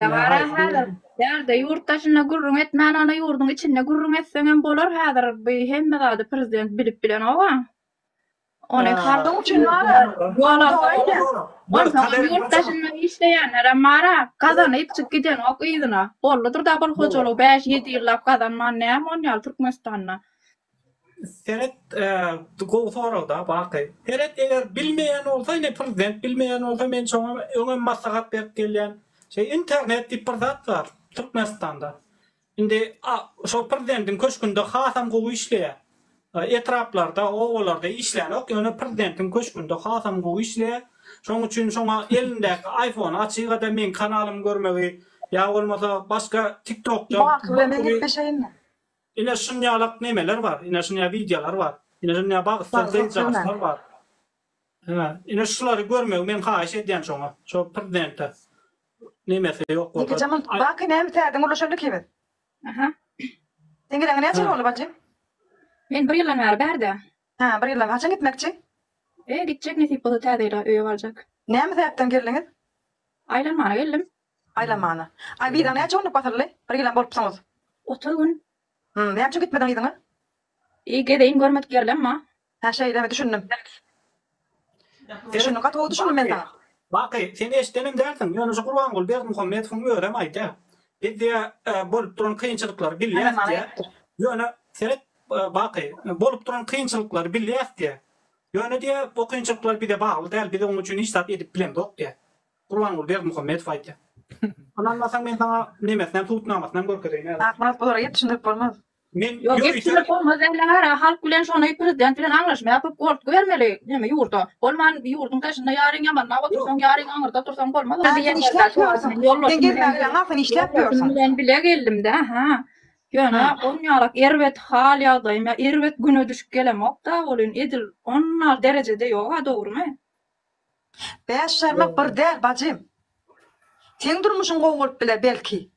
Dabara hazır. Dälde ýurt daşynda gürrüň etmän onda ýurduň içinde gürrüň etseňem bolar hazir bu hemme zady prezident bilip bilenova. Ony halk üçin bara ýolagda onsoňam ýurt daşynda işleýänlerem bara gazanyp çyk gidenok yzyna bollydyr dabul hojalygy bäş ýedi ýyllap gazanman näme onýaly türkmenistanda Seret gowy soragda baky. Seret eger bilmeýän bolsa ine prezident bilmeýän bolsa men şoňa öňem maslahat berip gelýän. Şeý internet diýip bir zat bar Türkmenistanda. Indi şol prezidentiň köşgünde hasam gowy işleýär. Etraplarda obalarda işlänok ýöne prezidentiň köşgünde hasam gowy işleýär. Şoň üçin şoňa elindäki iPhone açygada meň kanalymy görmegi ýa bolmasa başga TikTokda. Baky bilen gepleşeýinmi? Ine şunyalak nemeler bar, ine şunya wideolar bar, ine şunya bagtsyz gyzjagazlar bar. Hä, ine şulary görmegi men haýyş edýän şoňa, şo prezidente. Nemesi ýok bolsa. Ýekeje mul baky näme täzeden ulaşandyk ki biz. Aha. Seň gireňe näçe boldy bajym? Men bir ýyldan bäri bärde. Hä, bir ýyldan. Haçan gitmekçi? E, gitjek nesip bolsa täze ýyla öýe barjak. Näme sebäpden geldiňiz? Aýlanmana geldim. Aýlanmana. Aý biza näçe günlük basyldy? Bir ýylam bolupsyňyz. Otuz gün. Hum, näme üçin gitmediň yzyňa? Iý, gezeýin görmedik ýerlem bar. Hä, şeýlemi, düşündim. Düşündim, gaty gowy düşündim men saňa. Baky, sen eşidenem dälsiň, ýöne şu Gurbanguly Berdimuhamedowyň özem aýdýar. Biz diýýär, bolup duran kynçylyklary bilýäs diýýär. Ýöne, seret, Baky, bolup duran kynçylyklary bilýäs diýýär. Ýöne diýýär, o kynçylyklar bize bagly däl, biz onuň üçin hiç zat edip bilemzok diýýär. Gurbanguly Berdimuhamedow aýtýar. Ynanmasaň men saňa nemesinem subutnamasynam görkezeýin häzir. Akmyrat bulara ýetişindirip bolmaz. Men Ýok ýörite. ýetişindirip bolmaz ella gara halk bilen şony prezident bilen aňlaşma ýapyp gortgy bermeli neme ýurda bolman ýurdyň daşynda ýaryň ýamanda otursaň ýaryň aňyrda otursaň bolmaz ol. Nähili işläp ýörsüň? Sen gelmäge bilen hasyny işläp ýörsüň. Ýoldaşym bilen bile geldimdä ha. Ýöne on ýalak erbet hal ýagdaýym ýa erbet güne düşüp gelemokda welin edil onal derejede ýoga dogrymy? Bäş jarmak bir däl bajym. Seň durmuşyň gowy bolup biler belki.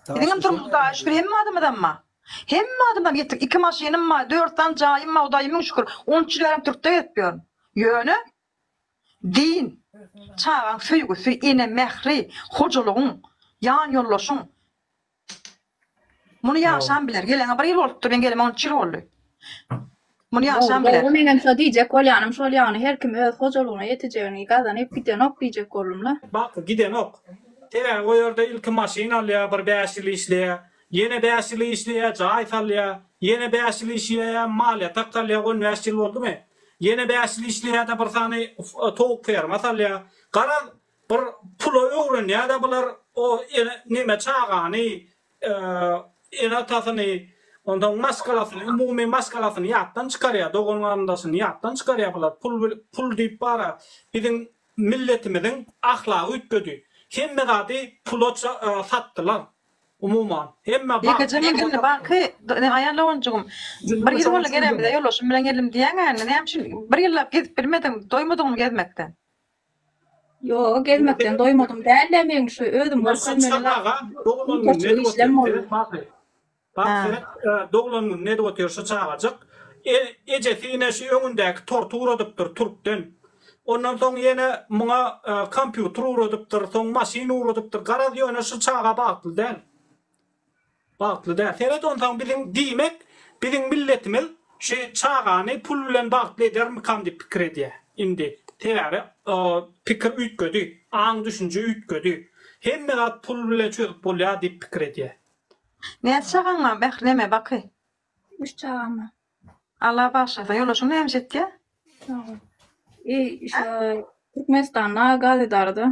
Biziňem durmuşy da şükür hemme adamyzamma. Hemme adamam ýetik iki maşynym bar, dört sany jaýym bar Hudaýa müň şükür. On üç ýyl bärem Türkde gezip ýörün. Ýöne din, çagaň söýgüsi, ene mähri, hojalygyň, ýan ýoldaşyň, Muny ýaşam biler. Gelene bir ýyl bolupdyr, men geleme on üç ýyl boldy. Muny ýaşam biler. Dogry, menem şo diýjek bolýanym şol ýagny her kim öz hojalygyna ýetejegini gazanyp gidenok diýjek boldumla. Baky gidenok. Sebäbi o ýerde ilki maşyn alýar, bir bäş ýyl işleýär. Ýene bäş ýyl işleýär, jaý salýar. Ýene bäş ýyl işleýär, mal ýatak salýar, on bäş ýyl boldumy? Ýene bäş ýyl işleýär-de bir sany towuk ferma salýar. Garaz, Bir pula öwrenýäda bular o ene neme çagany ene atasyny ondan maskalasyny umumy maskalasyny ýatdan çykarýa dogan garyndaşyny ýatdan çykarýa bular pul pul diýip bara biziň milletimiziň ahlagy üýtgedi hemme zady pula satdylar umuman hemme Aýalagonjygym bir ýyl boldy gelemize ýoldaşym bilen geldim diýýäňä indi näme üçin bir ýyllap gezip bilmediň doýmadyňmy gezmekden. Ýoga gezmekden doýmadym dälde meň şu özüm Doglan gün edip otyr şu çagajyk ejesi ine şu öňündäki torty ugradypdyr türkden ondan soň ýene muňa kompýuter ugradypdyr soň maşyn ugradypdyr garaz ýöne şu çaga bagtly däl. Bagtly däl. Seret onsaň biziň diýmek biziň milletimiz şu çagany pul bilen bagtly edermikam diýip pikir edýä indi. Sebäbi pikir üýtgedi, aň düşünje üýtgedi. Hemme zat pul bilen çözüp bolýa diýip pikir edýä. Näçe çagaň bar Mähreme baky? Üç çagam bar. Allah bagyşlasyn. Ýoldaşyň näme iş etýä? Sag bol. Türkmenistanda gaz edarada.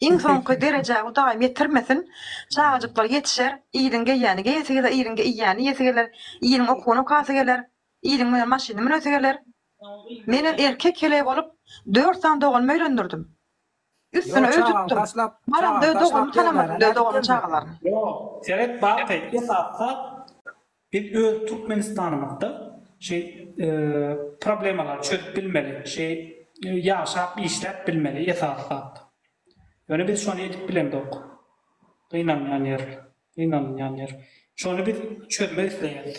Iň soňky derejä Hudaýym ýetirmesin. Çagajyklar ýetişer, iliň geýýäni geýesi geler, iliň iýýäni iýesi geler, iliň okuny okasy geler, iliň münen maşyny münesi geler. Menem erkek heleý bolup, dört sany doganym öýlendirdim. Üstüne öý tutdum. Baramda öz doganymyny tanamadym, öz doganym çagalaryny. Ýok, seret bak, gaýtdy, satsa. Biz öz Türkmenistanymyzda şeý problemalary çözüp bilmeli, şeý ýaşap işläp bilmeli esasy zat. Ýöne biz şony edip bilemzok. Gynanýan ýer, gynanylýan ýer. Şony biz çözmek isleýäris.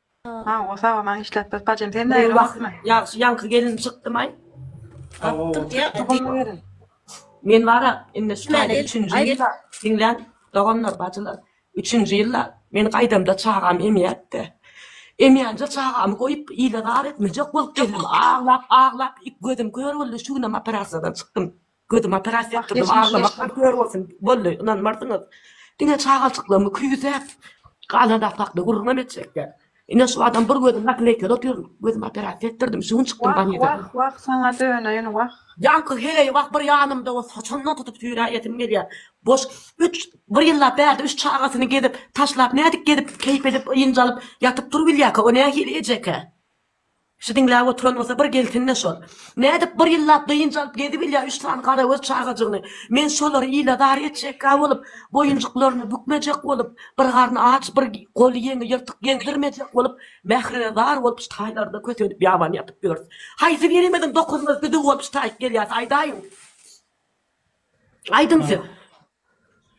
Hawa sawa maňa işläp bir bajem sen nägile bolupmy. Ýagşy ýaňky gelin çykdymaý. Men bara indi şu taýda üçünji ýylda diňläň doganlar bajylar üçünji ýylda men gaýdamda çagam emýätde emýänje çagamy goýup ile zar etmejek bolup geldim aglap aglap ik gözüm kör boldy şu günem operasiýadan çykdym. Gözüm operasiýa etdirdim, aglamak bir kör bolsun, boldy, ynanmarsyňyz. Diňe çagalçyklygmy küýsäp, galan zat hakda gürrüňem etjekler. Ine şu adam bir gözüm nakleýkeli otyr, gözüm operasiýa etdirdim, şu gün çykdym ganydan. Wah, wah, wah, saňa döneýin, wah. Ýaňky heleý wah bir ýanymda o saçyndan tutup süýräýesim gelýär. Boş üç, bir ýyllap bärde üç çagasyny gezip, taşlap nädip gezip, keýp edip, ynjalyp ýatyp-turup bilýärkä, o nähili ejekä? Şu diňläp oturan bolsa bir gelsin-de şol. Nädip bir ýyllap dynç alyp gezibilýär üç sany garagöz çagajygyny. Men şolary ile-zar etjekkä bolup, boýunjyklaryny bükmejek bolup, bir garny aç, bir goly-ýeňi ýyrtyk gezdirmejek bolup, mährine zar bolup şu taýlarda kösenip ýabany ýatyp ýörüs. Haýsy birimiziň dokuzymyz düzüw bolup şu taýy gelýäs, aýdaýyň. Aýdyň siz.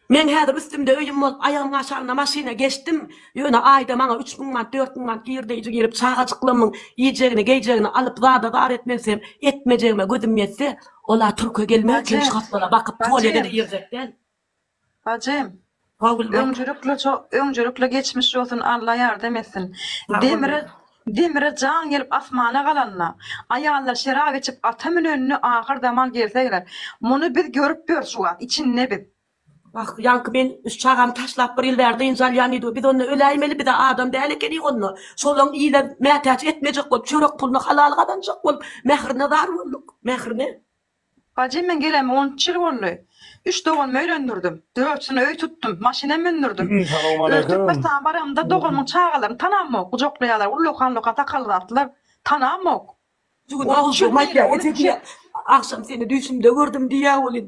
Men häzir üstümde öýüm bolup, aýagymyň aşagynda maşyna geçdim. Ýöne aýda maňa üç müň manat, dört müň manat girdeýji girip, çagajyklarymyň iýjegini, geýjegini alyp, zada zar etmesem, etmejegime gözüm ýetse, ol-a türke gelmezken şu hatlara bakyp, polýa-da girjek däl. Bajym. Öňcülükle ço öňcülükle geçmiş bolsun Alla ýardam etsin. Demire Demire jan gelip asmana galanda aýallar şerap içip ata münenini ahyr zaman gelsegler muny biz görüp ýörüs şu wagt içinde biz. Wah ýaňky men üç çagamy taşlap bir ýyl bäri dynç alýan diýdiw biz onda öläýmeli biza adam däl ekenik onda şolaň ile mätäç etmejek bolup çörek pulyny halal gazanjak bolup mährine zar bolduk mährine Bajy, men geleme on üç ýyl boldy. Üç doganymy öýlendirdim. Dörtüsini öý tutdum. Maşynam mündürdim. Öz Türkmenistana baranymda doganymyň çagalaryny tanamok. Gujaklaýarlar, ullakan-ullakan sakally zatlar. Tanamok. Jigim agzybirgem aýtýa, eje diýýä. Agşam seni düýşümde gördüm diýýä welin,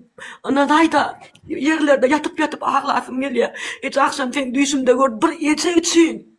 ynanaý-da, ýerlerde ýatyp-ýatyp aglasym gelýä. Eje, agşam seni düýşümde gördüm. Bir eje üçin.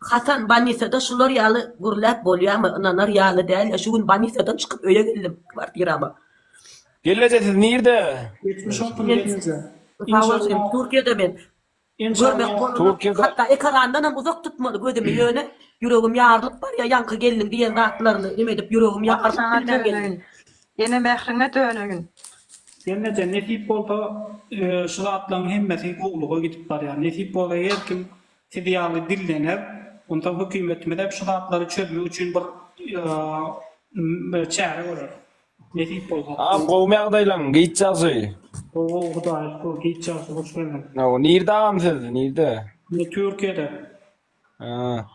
Hasan, Banisada şular ýaly gürläp bolýamy? Ynanar ýaly däl-ä, şu gün Banisadan çykyp öýe geldim, kwartirama. Gelneje, siz nirde? Sag bol, Türkiýede men. Görmek bolany, hatda ekerandanam uzak tutmaly gözümi, ýöne ýüregim ýarylyp barýar, ýaňky gelniň diýen zatlaryny neme edip ýüregim ýarylyp bilmän geldim. Ene mähriňe döneýin. Gelneje, nesip bolsa, şu zatlaryň hemmesi gowulyga gidip barýar. Nesip bolsa, her kim Siz ýaly dillener, onsoň hökümetimiz hem şu zatlary çözmek üçin bir çäre görer. Nesip bolsa. Agam gowmy ýagdaýlaň? Giç ýagşy. Gowy gowy hudaýa şükür giç ýagşy hoş geldiň. Gowy nirde agam siz nirde? Men türkiýede. Haa.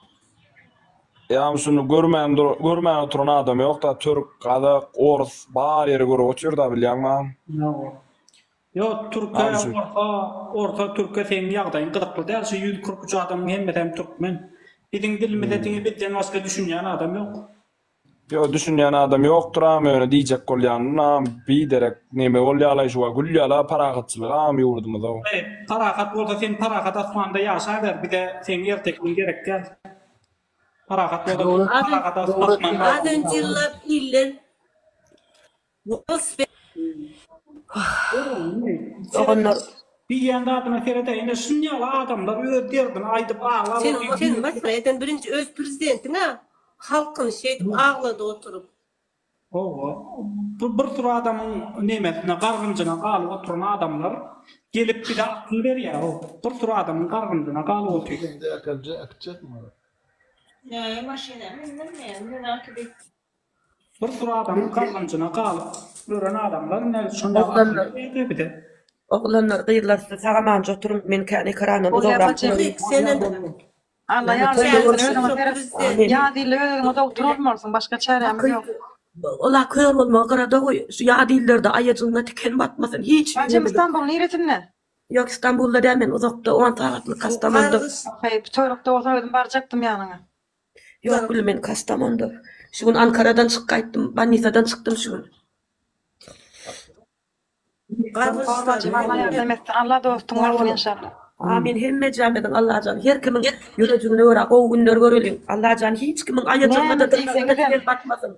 Agam şuny görmän dur görmän oturan adam ýok da türk, gazak, orus bar ýeri görüp otyr da bilýäňmi agam? Ýa. Ýok türke orta orta türke seň ýagdaýyň gyzykly däl şu ýüz kyrk üç adamyň hemmesem türkmen biziň dilimize hmm. diňe bizden başga düşünýän adam ýok. Ýok düşünýän adam ýokdur am ýöne diýjek bolýan nam bi derek neme bolýala şu wa gülýala parahatçylyk am ýurdumyza. Parahat bolsa sen parahat asmanda ýaşa ber bize seň ertekiň gerek däl. Parahat bolsa parahat asmanda. Azan jillap iller Doganlar. Diýýän zadyna seredä ine şunýaly adamlar öz derdini aýdyp aglap otyr. Sen sen masgara eden birinji öz prezidentiňa halkyny şeýdip aglady oturyp. Howwa bu bir sur adamyň nemesine gargynjyna galyp oturan adamlar gelip bize akyl berýär hop bir sur adamyň gargynjyna galyp otyr. Indi äkelse äkitjekmi olar. Näme maşyna mindim men, menaki diýip. Bir sur adamyň galganjyna galyp gören adamlar nädip şonda akyl ýeter bize. Oglanlar gyzlar siz sag amanca oturyň men kän ekerandan uzagrak turayyn. Alla ýardamyňyz bolsun özüňe seret ýadilla öz özüňe dogtor bolmalysyň başga çärämiz ýok. Ola kör bolmagy gyrada goý şu ýadillerde aýajygyňa tiken batmasyn hiç. Bacym Istanbul niresinde. Ýok Istanbulda däl men uzakda on sagatlyk hasdamanda. Haýp töwrekde bolsa özüm barjakdym ýanyňa. Ýok gülüm men Kastamonda. Şu gün Ankaradan çyk gaýtdym. Bannisadan çykdym şu gün. Alla dostun bolsun inşallah. Amin hemmejamiziň Allajan her kimiň ýürejigne görä gowy günler göreliň Allajan hiç kimiň aýajygyna da diýseňizem.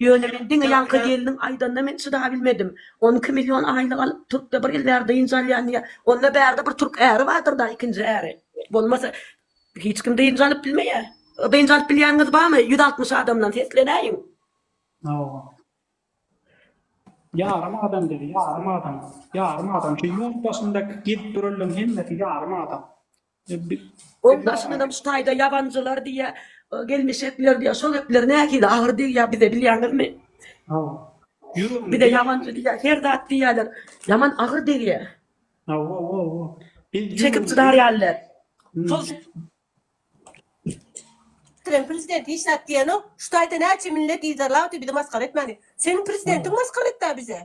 Ýöne men diňe ýaňky gelniň aýdanyna men çydabilmedim. On iki million aýlyk alyp, Türkde bir ýyl bäri dynç alýan diýýä. Onda bärde bir türk äri bardyr-da, ikinji äri. Bolmasa, hiç kim dynç alyp bilmeýä. Dynç alyp bilýäniňiz barmy? Ýüz altmyş adamdan seslenäýiň. Hawa. Ýarym adam diýdi, ýarym adam. Ýarym adam. Şu ýurt başynda gezip duranlaryň hemmesi ýarym adam. Oň daşyndanam şu taýda ýabanjylar diýýä, gelmişekler diýýä, şo gepler nähili agyr degýä bize bilýäňizmi? Bize ýabanjy diýýä, her zat diýýäler. Ýaman agyr degýä. Çekip çydar ýaly däl. Şol Türkiýäniň prezidenti hiç zat diýenok. Şu taýda näçe millet yzarlapdy bizi masgara etmäni. Seniň prezidentiň masgara etdi-ä bizi.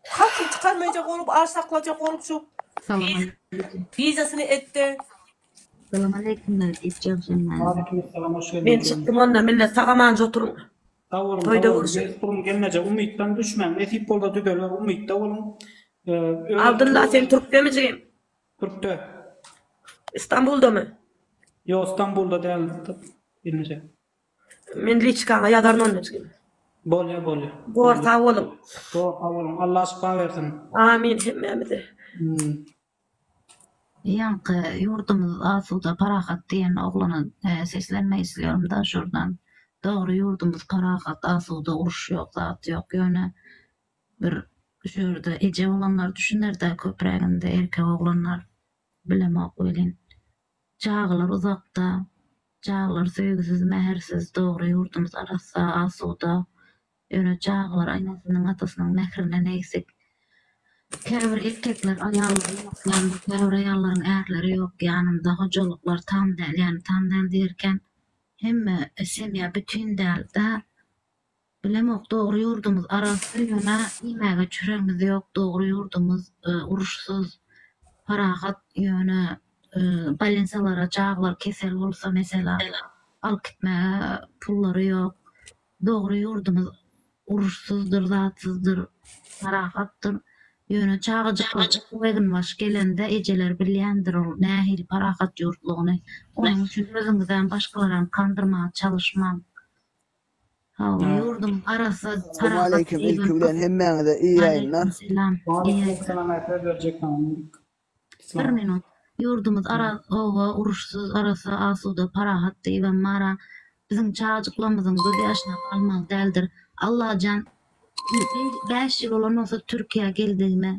Hatyny çykarmaýjak bolup az saklajak bolupjyk. Salam aleýkum. Wizasyny etde. Salam aleýkum Dad iş jagşan näme. Waleýkim salam hoş geldiň. Men çykdym onda millet sag amanca oturyň. Sag boluň sag boluň bes gurun gelneje umytdan düşmäň nesip bolsa düzeler umytda boluň öz. Abdylla sen türkdemi jigim. Türkde. Istanbuldamy. Ýok Istanbulda däl gelneje. Men liçkaňa ýazaryn Annecigiň. Bolýa bolýa. Bor sag boluň. Bor sag boluň Allah şypa bersin. Amin hemmämize. Ýaňky ýurdumyz asuda parahat diýen oglana seslenmek islýarymda şurdan. Dogry ýurdumyz parahat asuda uruş ýok zat ýok ýöne bir şu ýerde eje bolanlar düşünerde köpräginde erkek oglanlar bilemok welin Çagalar uzakda, çagalar söýgüsiz, mähirsiz, dogry ýurdumyz arassa, asuda. Ýöne çagalar enesynyň, atasynyň mähirinden egsik. Käbir erkekler aýallary ýok ýanynda, käbir aýallaryň ärleri ýok ýanynda, hojalyklar tam däl, ýagny tam däl diýerkäm, hemme semýa bütin däl-de, Bilemok dogry ýurdumyz arassa ýöne iýmäge çüregimiz ýok dogry ýurdumyz uruşsyz parahat ýöne balinsalara jaglar kesel bolsa mesela alyp gitmäge pullary ýok dogry ýurdumyz uruşsyzdyr zatsyzdyr parahatdyr ýöne çagajyklar okuw eginbaşy gelende ejeler bilýändir ol nähili parahat ýurtlygyny onuň üçin özüňizem başgalaram kandyrmaga çalyşmaň. Sagbol ýurdum arassa parahat eýwalkum Waleýkim selam eý ýaýlar. Bir minut ýurdumyz araz oba uruşsyz arassa asuda parahat diýibem bara biziň çajyklamyzyň göz ýaşyna galmaly däldir Allajan Bäş ýyl bolandan soň Türkiýä geldigime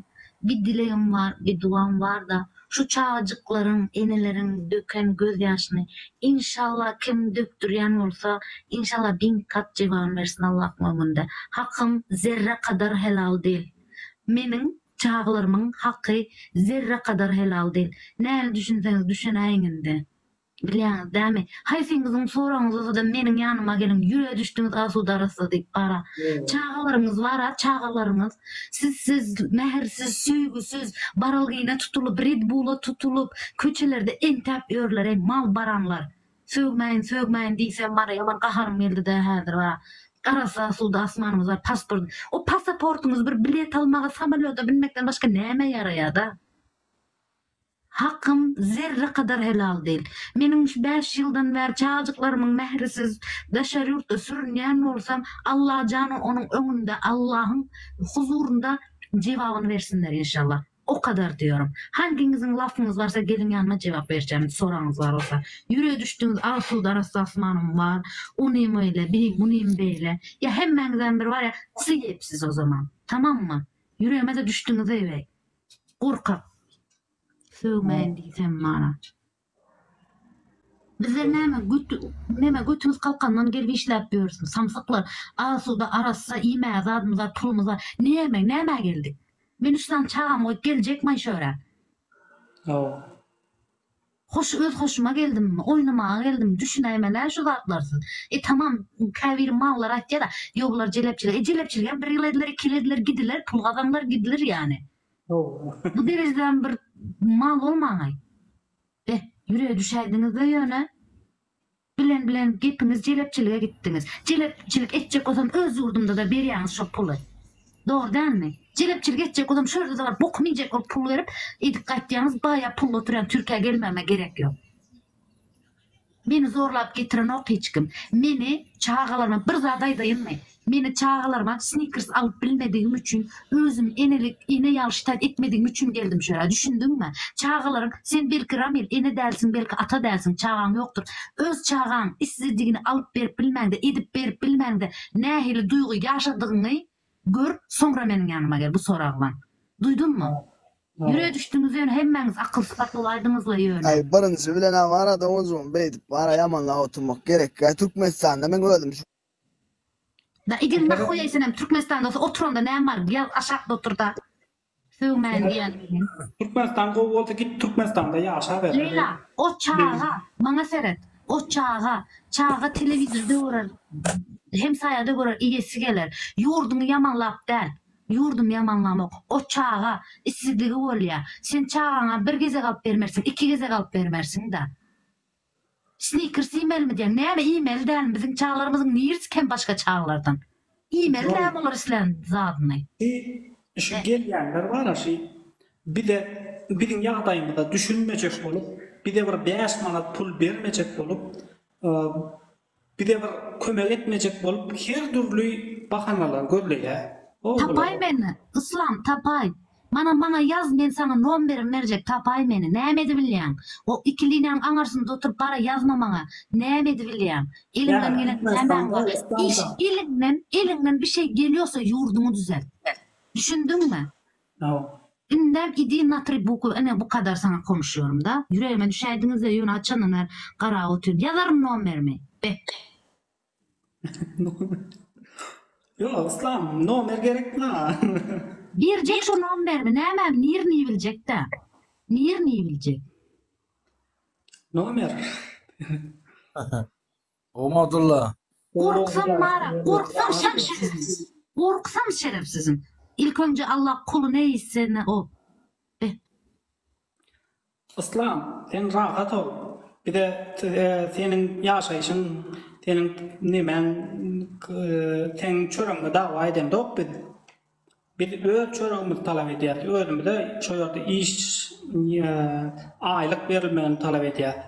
bir dilegim bar, bir duam bar-da, şu çagajyklaryň, eneleriň döken gözýaşyny, inşallah kim dökdürýän bolsa, inşallah bin kat jebany bersin Allahyň öňünde. Hakym zerre kadar helal dil. Meniň çagalarymyň haky zerre kadar helal dil. Näme düşünseňiz düşünäýiň indi. Bilýäňiz dämi, haýsyňyzyň soragyňyz bolsa-da meniň ýanyma geliň, ýüreýe düşdüňiz asuda arassa diýip bara. Çagalaryňyz bar-a, çagalaryňyz. Sizsiz, mähirsiz, söýgüsiz, baralgyna tutulyp, red-bula tutulyp, köçelerde entäp ýörler-eý, mal baranlar. Sögmäýin, sögmäýin diýsem bara, ýaman gaharym geldi-dä häzir bara. Arassa asuda asmanyňyz bar, pasport. O pasaportyňyz bir bilet almaga, samolýoda binmekden başga nämä ýaraýa-da? Hakym zerre kadar helal dil. Meniň şu bäş ýyldan bäri çajyklarymyň mährisiz daşary ýurtda sürünýän bolsam Allajana onuň öňünde Allahyň huzurynda jebabyny bersinler inşallah. O kadar diyorum. Hangiňiziň lafyňyz barsa geliň ýanyma jebap berjämin soragyňyz bar bolsa. Ýüreýe düşdüňiz Asuda arassa asmanym bar. Onym öýle biri bunym beýle. Ýa hemmäňizem bir barýa syy ep siz o zaman. Tamammy. Ýüreýmede düşdüňiz eýbäý. Gorkak. Sögmeýin diýsem mana. Bizler näme götü näme götümiz kalkandan gelip işläp ýörsün samsyklar asuda arassa iýmäge zadymyza pulumyza näme nämä geldik. Men üç sany çagamy goýup geljekmaý şu ýere. Hawa. Hoş öz hoşuma geldim, oýnamaga geldim, düşünäýmelä şu zatlarsyz. E tamam, käbiri mallar aýtýada, ýo bular jelepçilik, e jelepçiligem bir ýyl ediler, iki ýyl ediler, gidiler, pul gazanylar, gidiler ýani. Hawa. Bu derejedämi bir mal bolmaňaý. Beh, ýürege düşäýdiňizde ýöne. Bilen bilen gepiňiz jelepçilige gitdiňiz. Jelepçilik etjek bolsam öz ýurdumdada berýäňiz şo puly. Dogry dälmi? Jelepçilik etjek bolsam şu ýerde bar bokumy iýjek bolup pul berip edip gaýtýaňyz baýa pully oturýan türkiýä gelmegime gerek ýok. Meni zorlap getirenok hiç kim. Meni çagalarma bir zat aýdaýynmy? Meni çagalaryma snikers alyp bilmedigim üçin, özümi enelik ene ýalşy taýt etmedigim üçin geldim şu ýere. Düşündiňmi? Çagalaryň, sen belki Ramil ene dälsiň, belki ata dälsiň, çagaň ýokdur. Öz çagaň isledigini alyp berip bilmäňde, edip berip bilmäňde nähili duýgy ýaşadygyňy gör, soňra meniň ýanyma gel bu soraglaň. Duýduňmy? Ýürege düşdüňiz ýöne hemmäňiz akyl sypatlaýdyňyzla ýöne. Birinji bilen-ä barada ozüňi beýdip bara ýamanlap oturmak gerekkä. Türkmenistanda meň özüm şu. Da eger nahuýa senem türkmenistan bolsa otur onda näme bar ýaz aşakda otur da sögmäýin diýen. Türkmenistan gowy bolsa git türkmenistanda ýaşa ber. Leýla o çaga maňa seret o çaga çaga telewizorda görer hemsaýada görer iýesi geler ýurduňy ýamanlap däl ýurdumy ýamanlamok o çaga isledigi bolýa sen çagaňa bir gezek alyp bermersiň iki gezek alyp bermersiň da. Snickers iýmelimi diýen. Näme iýmeli dälmi biziň çaglarymyzyň nirsi kem başga çaglardan. Iýmeli dälmi olar islän zadyny. Ýi şu gelýänler bara şi bize biziň ýagdaýymyza düşünmejek bolup bize bir bäş manat pul bermejek bolup Bize bir kömek etmejek bolup her dürli bahanalar gözleýä o olar. Tapaý meni Yslam tapaý. Mana maňa ýaz men saňa nomberim berjek tapaý meni näme edibilýäň o iki linýaň aňarsynda oturyp bara ýazma maňa näme edibilýäň eliňden gelen nämäň bar iş eliňden eliňden bişeý gelýosa ýurduňy düzelt düşündiňmi Sag. Indem idi natri bukw ine bu kadar saňa konuşýorym da ýüregime düşäýdiňizde ýöne haçandan bäri garap otyryn ýazaryn nomerimi bet. Nomer Ýok Yslam nomer gerekmi maňa. Berjek şo nomberimi nämemi nirini biljekdä nirini biljek. Nomer. Ogmadylla. Gorksaň mara, gorksaň şam şerefsiz. Gorksaň şerefsizim. Ilk önje Allah kuly ne iste ne o. Be. Yslam sen rahat ol bize seniň ýaşaýşyň seniň nemäň seň çöregiňe dawa edemzok biz biz öz çöregimizi talap edýäs özümize şo ýerde iş aýlyk berilmegini talap edýäs.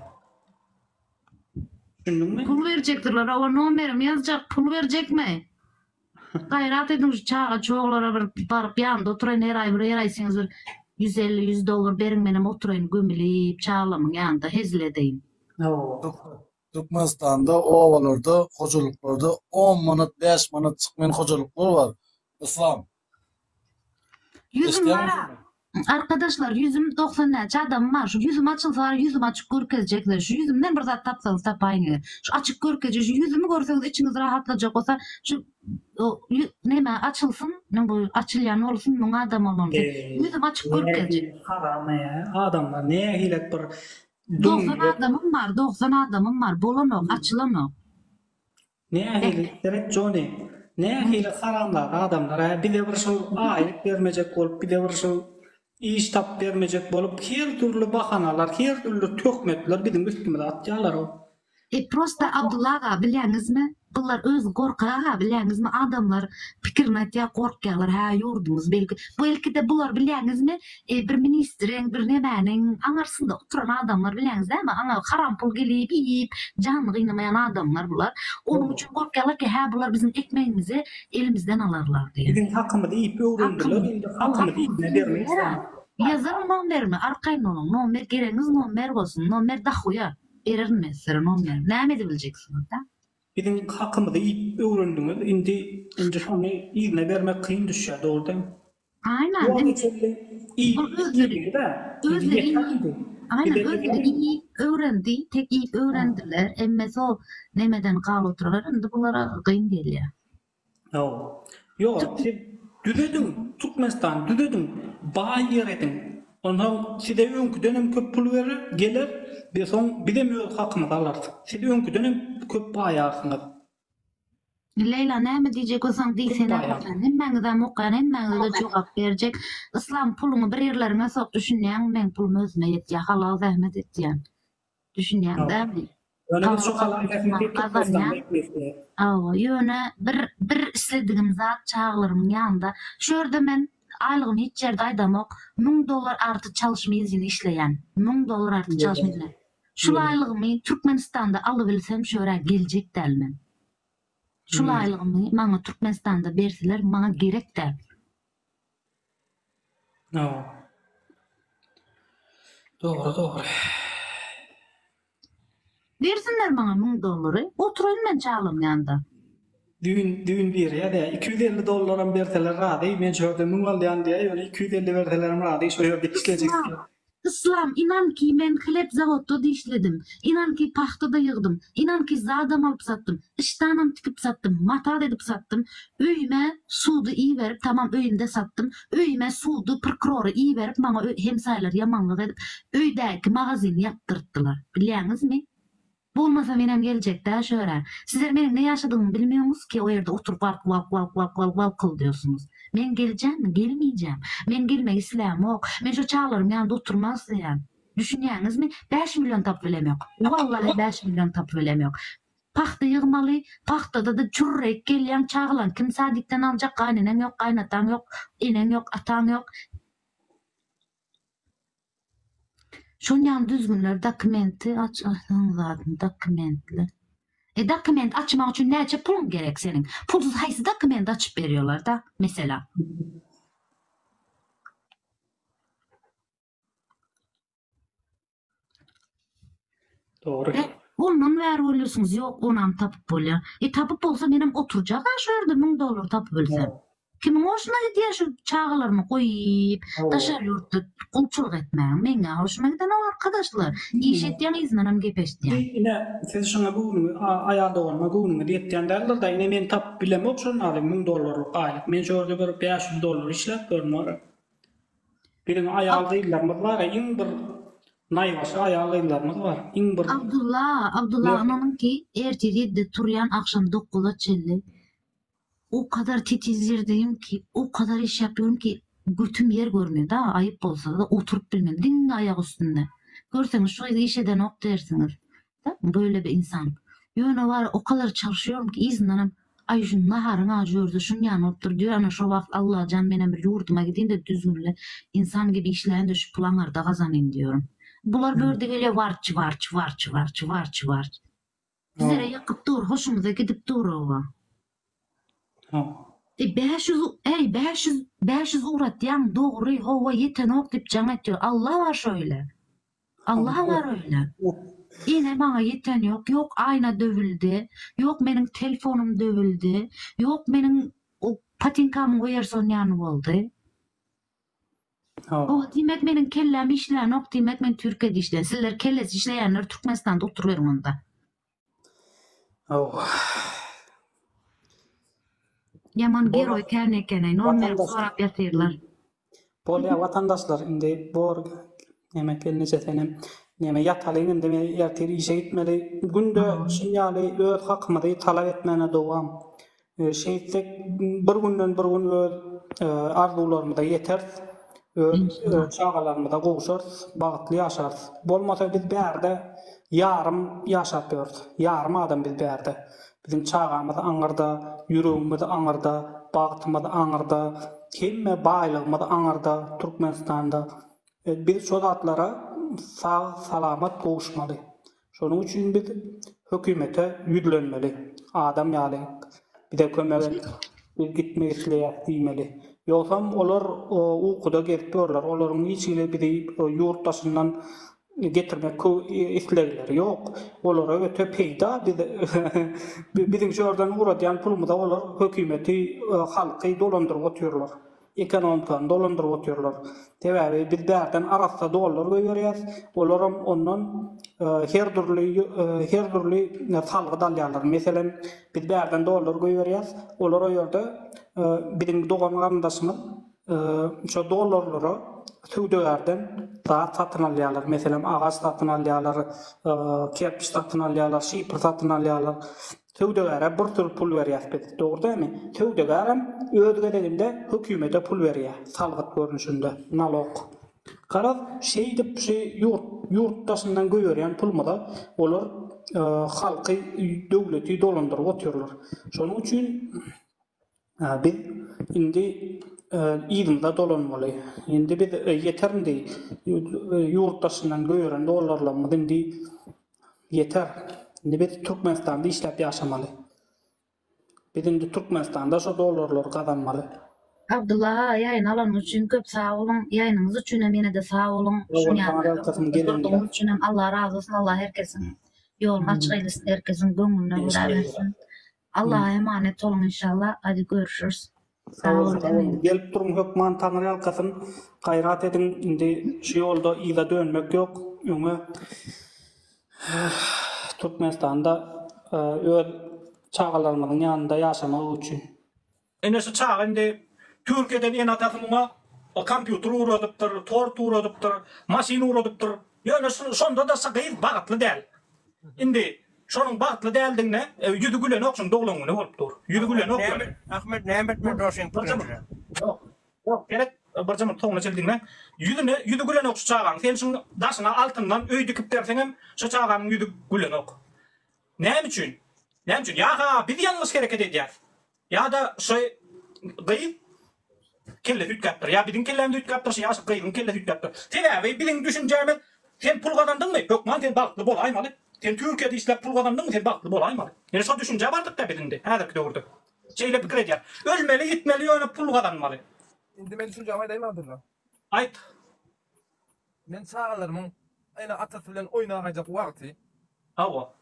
Düşündün mi? Pul berjekdirler oba nomerim ýazjak pul berjekmi? Gaýrat ediň şu çaga çoglara bir baryp ýanynda oturaýyn her aý bir her aý siňiz bir ýüz elli ýüz dollar beriň menem oturaýyn gömülip çaglamyň ýanynda hezil edeýin. Türkmenistanda obalarda hojalyklarda on manat bäş manat çykmaýan hojalyklar bar Yslam. Ýüzüm Eşdeň- bara. Arkadaşlar ýüzüm doksan näçe adamym bar şu ýüzüm açylsa bar ýüzümi açyk görkezjek size şu ýüzümden bir zat tapsaňyz tapaýyň ýa şu açyk görkezje şu ýüzümi görseňiz içiňiz rahatlajak bolsa şu o, ýü- näme açylsyn men bu açylýan bolsun müň adam bolan sen Eee, ýüzümi açyk nähili görkezje haram eee, adamlar nähilek bir doksan dümdüz adamym bar doksan adamym bar bolanok açylanok Nähili, seret Jony, nähili haramzada adamlar-a, bize bir şol aýlyk bermejek bolup, bize bir şol iş tapyp bermejek bolup, her dürli bahanalar, her dürli töhmetler biziň üstümize atýalar-ow. E, prosta Abdylla aga, bilýäňizmi, bular özi gorkak aga, bilýäňizmi, adamlar pikirini aýtýar, gorkýarlar, hä, ýurdumyz belki, bu ilkide bular, bilýäňizmi, E bir ministriň bir nämäniň aňarsynda oturan adamlar bileňiz näme aňa haram pul gelip iýip janyny gynamaýan adamlar bular onuň üçin gorkýarlar ki hä bular biziň ekmegimizi elimizden alarlar diýip. Biziň hakymyzy iýip öwrendiler indi hakymyzy iýsine bermeýs wah. Ýazyň nomerimi arkaýyn boluň nomer geregiňiz nomer bolsun nomer dahuýa bererin men sizlere nomer näme edebiljeksiňizda. Biziň hakymyzy iýip öwrendiňiz indi indi şony yzyna bermek kyn düşýär dogry dämi. Aýnan. Ýok içinde iýip içdiler-de. Özleri iýdi. Aýnan özleri iýip öwrendi. Tek iýip öwrendiler. Emmesi o nemeden galy oturarlar. Indi bulara gyn gelýär. Hawa. Ýok siz düzediň. Türkmenistany düzediň. Baý ýer ediň. Onsoň size öňküden hem köp pul berer, geler we soň bizem öz hakymyzy alarys. Siz öňküden hem köp baýarsyňyz. Leýla näme diýjek bolsaň diý sen Aýarsan hemmäňizem okaýan hemmäňizede jogap berjek Yslam puluňy bir ýerleriňe sok düşünýäňmi meň pulum özüme ýetýä halal zähmet etýän düşünýäň dämi Hawa ýöne bir bir isledigim zat çagalarymyň ýanynda şu ýerde men aýlygymy hiç ýerde aýdamok müň dollar arty çalyşym ýzin işleýän müň dollar arty çalyşym ýzin Şu laýlygymy Türkmenistanda alybilsem şora geljek däl men. Şu laýlygymy maňa Türkmenistanda berseler maňa gerek däl. Hawa. Dogry dogry. Bersinler maňa müň dollary, oturaýyn men çalam ýanda. Düýn düýn biri ýa dä iki ýüz elli dollaram berseler razy men şu ýerde müň alýan diýä ýöne iki ýüz elli berselerim razy şu ýerde işlejek. Yslam, inan ki, men hlet zawodda-da işledim. Inan ki, pagta-da ýygdym. Inan ki, zadam alyp satdym. Işdanam tikip satdym. Mata-da edip satdym. Öýüme sudy iberip, tamam öýümde satdym. Öýüme sudy, prkrory iberip, maňa hemsaýalar ýamanlyk edip, öýdäki magazyny ýapdyrtdylar. Bilýäňizmi? Bolmasa menem geljekdä şu ýere. Sizler meniň ne ýaşadygymy bilmiýoňyz ki o ýerde oturyp walk walk walk walk walk walkyldyýosyňyz. Men geljämmi? Gelmeýjäm. Men gelmek islämok. Men şo çaglarym ýanynda oturmak isleýän. Düşünýäňizmi? Bäş million tapyp bilemýok. Wallahy bäş million tapyp bilemýok. Pagta ýygmaly, pagtada-da çürrek gelýäň, çagalaň kim sadikden aljak, gaýneneň ýok, gaýnataň ýok, eneň ýok, ataň ýok. Şol ýaly düzgünler dokumenti dokumentler. E dokument açmak üçin näçe puluň gerek seniň? Pulsuz haýsy dokumenti açyp berýolarda mesela? Dogry. E, ondan bäri bolýarsyňyz, ýok, onam tapyp bolýar. E, tapyp bolsa menem oturjak-a şu ýerde müň dollar tapyp bilsem. Kimiň hoşuna gidýär şu çagalarymy goýup, daşary ýurtda gulçulyk etmäň? Meň-ä hoşuma gidenok, arkadaşlar. Iş etýän yzyndanam gep eşitýän. Ine, siz şuňa göwnüňi, a, aýal doganyma göwnüňiz ýetýän däldir-da, ine, men tapyp bilemok şol maly müň dollarlyk aýlyk. Men şu ýerde bir bäş ýüz dollar işläp ýörün, ora. Biziň aýal gyzlarymyz bar iň bir naýbaşy aýal gyzlarymyz bar iň bir. Abdulla Abdulla ynanyňki ertir ýedide turýan agşam dokguza çenli o kadar titiz ýerdeyim ki o kadar iş ýapyyorum ki götüm ýer görmüyor da aýyp bolsa oturyp bilmem diňe aýak üstünde görseňiz şu gyz iş edenok dersiňiz Dä, böyle bir insan. Ýöne wara o kadar çalyşýoryn ki, yzyndanam, Aý, şu naharyň ajy ýörde şuny ýan bolup dur diýýär, ana şo wagt, Allajan, menem bir ýurduma gidin-de, düzgünli insan gibi işläýin-de, şu puly aňyrda gazanyn diýýärin. Bular bu ýerde gelýär, warç, warç, warç, warç, warç, warç. Bizlere ýykyp dur, hoşumyza gidip dur, oba. Hä. E bäş ýüz äý bäş ýüz bäş ýüz ugratýaň dogry howa ýetenok diýip jaň etýär Alla bar şöýle Alla bar öýle ine maňa ýeten ýok ýok aýna döwüldi ýok meniň telfonym döwüldi ýok meniň patinkamyň werson ýany boldy Howa diýmek meniň kelläm işlänok diýmek men türkiýede işleýän sizler kellesi işleýänler türkmenistanda oturyberiň onda. Ýaman geroý kän ekeneý non berip sorap ýatyrlar. Bolýa watandaşlar indi bor neme gelneje senem neme ýatalyň indi men ertir işe gitmeli günde şunýaly öz hakymyzy talap etmäne dowam Şeýtsek, bir günden bir gün öz arzuwlarymyza ýeteris, öz çagalarymyza gowşarys, bagtly ýaşarys. Bolmasa biz bärde ýarym ýaşap ýörüs, ýarym adam biz bärde. Biziň çagamyz aňyrda, ýüregimiz aňyrda, bagtymyz aňyrda, hemme baýlygymyz aňyrda, Türkmenistanda. Biz şo zatlara sag-salamat gowuşmaly. Şonuň üçin biz hökümete ýüzlenmeli. Adam ýaly, bize kömek et, biz gitmek isleýäs diýmeli. Ýogsam olar ukuda gezip ýörler. Olaryň niçigine bizi ýurt daşyndan getirmek islegleri ýok. Olara öte peýda biz biziň şu ýerden ugradýan pulumyza olar hökümeti, halky dolandyryp otyrlar. Ekonomikany dolandyryp otyrlar. Sebäbi biz bärden arassa dollar goýberýäs, olaram ondan her dürli her dürli salgyt alýarlar. Meselem, biz bärden dollar goýberýäs, olar o ýerde biziň dogan-garyndaşymyz şo dollarlara söwdagärden zat satyn alýarlar. Meselem, agaç satyn alýarlar, kerpiç satyn alýarlar, şifr satyn alýarlar. Söwdagäre bir sürü pul berýäs biz, dogry dälmi? Söwdagärem öz gezeginde hökümete pul berýär, salgyt görnüşinde, nalog. Garaz, şeýdip şu ýurt, ýurt daşyndan goýberýän pulumyza olar halky, döwleti dolandyryp otyrlar. Şonuň üçin. Biz indi yzymyza dolanmaly. Indi biz ýeter indi ýurt daşyndan göýeren dollarlarymyz indi ýeter. Indi biz Türkmenistanda işläp ýaşamaly. Biz indi Türkmenistanda şo dollarlary gazanmaly. Abdylla aga ýaýyny alanyňyz üçin köp sag boluň, ýaýynyňyz üçin hem ýene-de sag boluň, şuň ýaly üçin hem Allah razy bolsun, Allah her kesiň ýoluny açyk eýlesin, her kesiň göňlüne gura bersin. Allaha emanet boluň inşallah hadi görüşüris. Sag boluň sag boluň gelip duruň hökman taňry ýalkasyn gaýrat ediň indi şu ýolda yza dönmek ýok öňe Türkmenistanda öz çagalarymyzyň ýanynda ýaşamagy üçin. Ine şu çaga indi Türkiýeden ene-atasy muňa kompýuter ugradypdyr, tort ugradypdyr, maşyn ugradypdyr. Ýöne şonda-da şu gyz bagtly däl. Indi şonuň bagtly däldigine ýüzi gülenok, şunuň doglan güni bolup dur. Ýüzi gülenok ýöne. Ahmet näme etmeli Roşen Printere? Ýok, ýok gerek bir jymy toňuna çil diňläň. Ýüzüne ýüzi gülenok şu çagaň. Sen şuň daşyna altyndan öý dikip berseňem şu çaganyň ýüzi gülenok. Näme üçin? Näme üçin? Ýa-ha biz ýalňyş hereket edýäs. Ýa-da şy gyz kelle süýtgäpdir, ýa biziň kellämiz üýtgäpdir, şy ýaşyk gyzyň kelle süýtgäpdir. Sebäbi biziň düşünjämiz Sen pul gazandyňmy, hökman sen bagtly bolaýmaly. Sen Türkiýede işläp pul gazandyňmy, sen bagtly bolaýmaly. Ýöne şo düşünjä bardyk-da biz indi, häzirki döwürde. Şeýle pikir edýäs. Ölmeli, ýitmeli, ýöne pul gazanmaly. Indi men düşünjämi aýdaýyn agdyrja? Aýt. Men çagalarymyň ene-atasy bilen oýnagaýjak wagty. Hawa.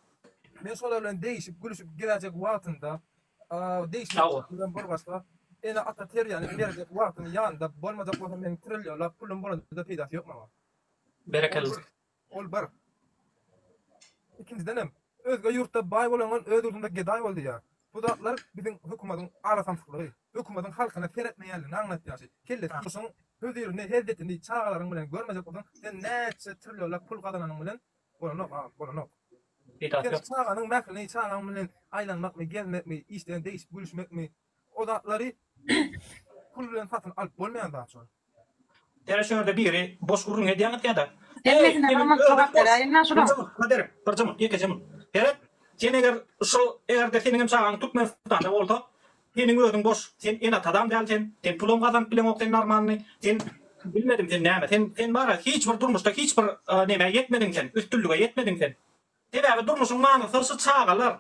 Men şolar bilen degişip, gülüşip gezäýjek wagtynda, degişmek bilen bir başga, ene-ata terbiýäni berjek wagtym ýanynda bolmajak bolsa, meniň trilýonlap pulum bolanda-da peýdasy ýok maňa. Berekella. Ol bir. Ikinjidenem, Özge ýurtda baý bolangan öz ýurdunda gedaý bol diýýär. Bu zatlar biziň hökümadyň arasamsyklygy, hökümadyň halkyna seretmeýänligini aňlatýaşy. Kelle turmuşyň hözirini, hezzetini çagalaryň bilen görmejek bolsaň sen näçe trillionlap pul gazananyň bilen bolanok agam, bolanok. Sen çaganyň mährini çagaň bilen aýlanmakmy, gezmekmi, işden degişip gülüşmekmi, O zatlary pul bilen satyn alyp bolmaýan zat şol. Tä şörde biri boş gürrüň edýäňiz kädä. Hemmesine bir munt jogap beräýiňdä şunuň. Kadyr, bir jyň, ýekeje munt. Heret, sen eger şu eger-de seniňem çagaň Türkmenistanda bolsa, seniň özüň boş. Sen ene-atadam däl sen. Sen pulam gazanyp bileňok sen normalny. Sen bilmedim sen näme. Sen sen bara hiç bir durmuşda hiç bir nämä ýetmediň sen, üstünlige ýetmediň sen. Sebäbi durmuşyň manysy şu çagalar.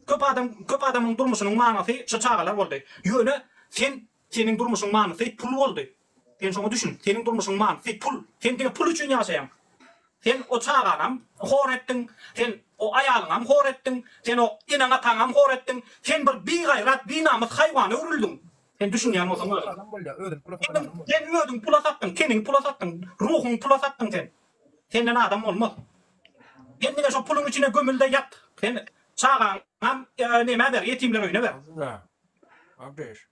Köp adam köp adamyň durmuşynyň manysy şu çagalar boldy. Ýöne sen seniň durmuşyň manysy pul boldy. Sen şoňa düşün. Seniň durmuşyň manysy pul. Sen diňe pul üçin ýaşaýaň. Sen o çagaňam hor etdiň. Sen o aýalyňam hor etdiň. Sen o eneň ataňam hor etdiň. Sen bir bigaýrat, binamys haýwana öwrüldiň. Sen düşünýän bolsaň özüň. Sen özüň pula satdyň. Teniňi pula satdyň. Ruhuňy pula satdyň sen. Senden adam bolmaz. Sen diňe şo puluň içine gömülde ýat. Sen çagaňam nämä ber, ýetimler öýüne ber. Aslynda, Abdyş.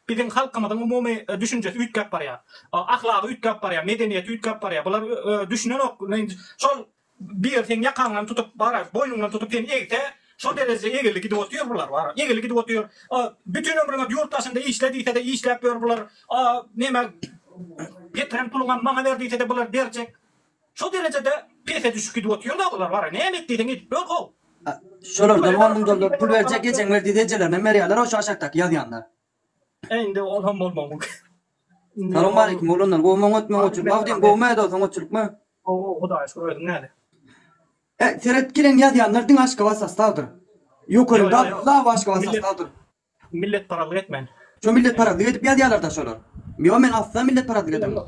Biziň halkymyzyň umumy düşünjesi üýtgäp barýar. Ahlagy üýtgäp barýar, medeniýeti üýtgäp barýar. Bular düşünenok. Şol Biri seň ýakaňdan tutup barar, boýnuňdan tutup seni egse, şol derejede egildi gidip otyr bular wara, egildi gidip otyr. A, bütin ömrüňe ýurt daşynda işle diýse-de işläp ýör bular. A, neme, getiren puluňam maňa ber diýse-de bular berjek. Şo derejede pese düşüp gidip otyr-da bular wara, näme et diýseň edip ýör how. A, şolardan on müň dollar pul berjek, ejeň ber diýse ejelerinem berýärler, ho şu aşakdaky ýazýanlar. E indi ol hem bolmagy mumkin. Salam aleýkum oglanlar gowy maňa ötme gowy çyk magdym gowy mä dostum gowy çyk mä. Gowy gowy hudaýa şükür özüň näle. E seret gelen ýazýanlar diňe aşgabat sastawdyr. Ýokerim da law aşgabat sastawdyr. Millet parazlyk etmän. Şo millet parazlyk edip ýazýalar da şolar. Ýo men asla millet parazlyk edemok.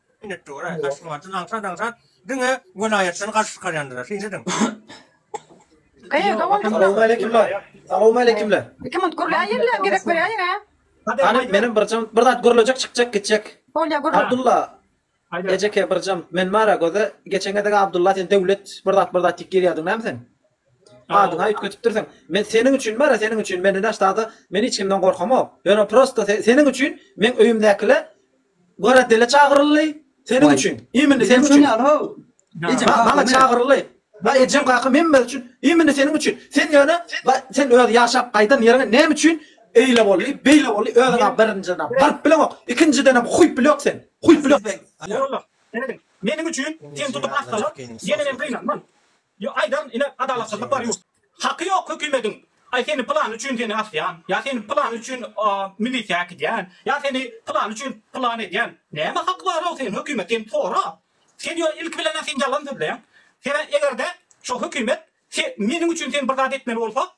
Minnetdora, Aşgabatdan aňsat aňsat diňe welaýatdan garşy çykarýandyra. Şeýle ediň. Eý dogan kim lan? Salowmaleýkimler. Salowmaleýkimler. Iki minut gürläýinle gezek berýäýiň ä. Hany menem bir jam bir zat gürlejek çykjak gitjek. Bolýa gürle. Abdulla ejeke bir jam men bara göze geçen gezek Abdulla sen Döwlet bir zat bir zat diýip gelýärdiň näme sen? Adyňa üýtgetipdirsiň. Men seniň üçin bara seniň üçin men ine ştada men hiç kimden gorkamok. Ýöne prosta seniň üçin meň öýümdäkile Gara dele çagyryldy. Seniň üçin. Imindi seniň üçin. Maňa çagyryldy. Ba ejem kakam hemmesi üçin. Imindi seniň üçin. Sen ýöne ba sen öz ýaşap gaýdan ýeriňe näme üçin eýle boldy, beýle boldy, özüňa birinjiden baryp bileňok, ikinjidenem huýp bileňok sen. Huýp bileňok sen. Ýa Allah. Seredin. Meniň üçin sen tutup assalar, ýenenem gynanman. Yo aýdaryn ine adalatsyzlyk bar ýurt. Haky ýok hökümediň aý seni pylany üçin seni asýan ýa seni pylany üçin milisiýa äkidýän ýa seni pylany üçin pylany edýän näme haky barow sen hökümet sen sora sen ýo ilki bilenä sen ýalan sözleýäň sene egerde şo hökümet meniň üçin sen bir zat etmeli bolsa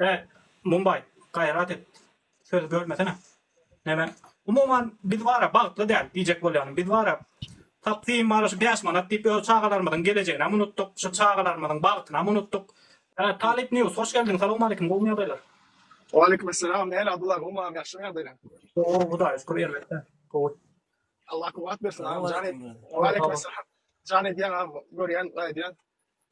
He, Mumbai, gaýrat et, söz görmesene. Näme? Umuman, biz bar-a, bagtly däl, diýjek bolýanym. Biz bar-a, tapsym bar-a, şu bäş manat diýip, öz çagalarymyzyň gelejeginem unutdyk, şu çagalarymyzyň bagtynam unutdyk. He, Talyp News, hoş geldiň, salawmaleýkim, gowumy ýagdaýlar? Waleýkim Essalam, nähili Abdylla, gowumy agam, ýagşymy ýagdaýlaň? Gowy, Hudaýa şükür, elbetde, gowy. Allah kuwwat bersin agam, jan edýän agam, görýän, gaýdýan.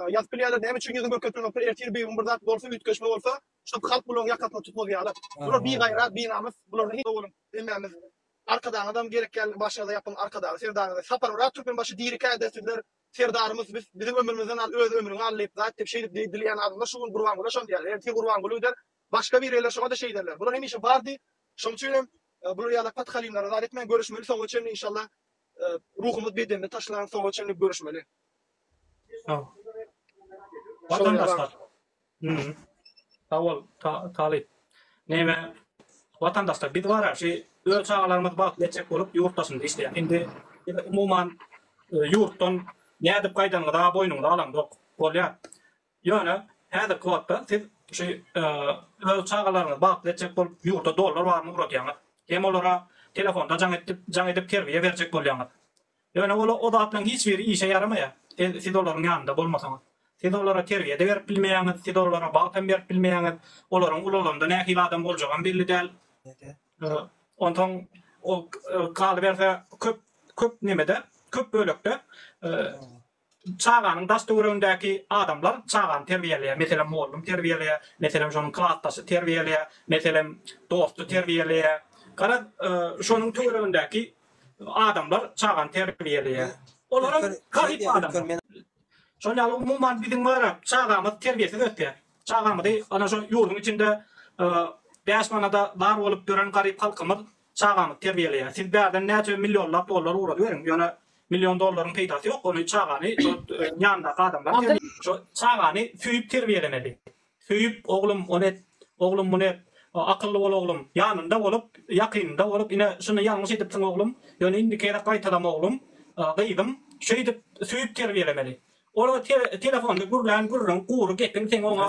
Ýazyp bilýärler näme üçin ýüzin görkezmeýoklar ertir bir gün bir zat bolsa üýtgeşme bolsa şunup halk bularyň ýakasyny tutmaz ýalar bular bigaýrat binamys bular sag boluň hemmämiz arkadagyňyzam gerek ýaly başyňyza ýapyň arkadagy serdaryňyzy sapar oraz türkmenbaşy dirikäde sizler serdarymyz biz biziň ömrümizden al öz ömrüňi al diýip zat diýip şeýdip diýip dileýän adamlar şu gün gurbangula şony diýerler ertir gurbanguly gider başga bir ýerler şoňada şeý ederler bular hemişe bardy şoň üçin hem bular ýaly patkalinlere zat etmäň görüşmeli soňa çenli inşallah ruhumyz bedende taşlan soňa çenli görüşmeli. Sawol talyp. Neme watandaşlar biz bar-a şi öz çagalarymyz bagtly etjek bolup ýurt daşynda işleýäs. Indi umuman ýurtdan nädip gaýdanyňyza boýnuňyza alaňzok. Bolýar. Ýöne häzirki wagtda siz şu öz çagalaryňyzy bagtly etjek bolup ýurda dollar baryny ugradýaňyz. Hem olara telefonda jaň etip, jaň edip terbiýe berjek bolýaňyz. Ýöne ol o zatlaryň hiç biri işe ýaramaýar, siz olaryň ýanynda bolmasaňyz. Siz olara terbiýe-de berip bilmeýäňiz, siz olara bagtam berip bilmeýäňiz. Olaryň ulalanda nähili adam boljagam belli däl. Onsoň ol galyberse köp köp nemede, köp bölekde Çaganyň daş-töweregindäki adamlar çagany terbiýeleýär, meselem, mugallym terbiýeleýär, meselem, şonuň klasdaşy terbiýeleýär, meselem, dosty terbiýeleýär. Garaz, şonuň töweregindäki adamlar çagany terbiýeleýär. Olaram garyp adamlar. Şol ýaly umuman biziň bara çagamyz terbiýesiz ösýär. Çagamyzy ana şo ýurduň içinde bäş manada zar bolup ýören garyp halkymyz Çagaňyz terbiýeleýär. Siz bärden näçe millionlap dollar ugrady beriň, ýöne million dollaryň peýdasy ýok. Ony çagany şo ýanyndaky adamlar terbiýe. Şo çagany söýüp terbiýelemeli. Söýüp, oglum, ony et, oglum, muny et, akylly bol oglum, ýanynda bolup, ýakynynda bolup, ine, şuny ýalňyş edipsiň oglum, ýöne indiki gezek gaýtalama oglum, gyzym, şeýdip söýüp terbiýelemeli. Ol telefonda gürlän gürrüň, gury gepiň seň oňa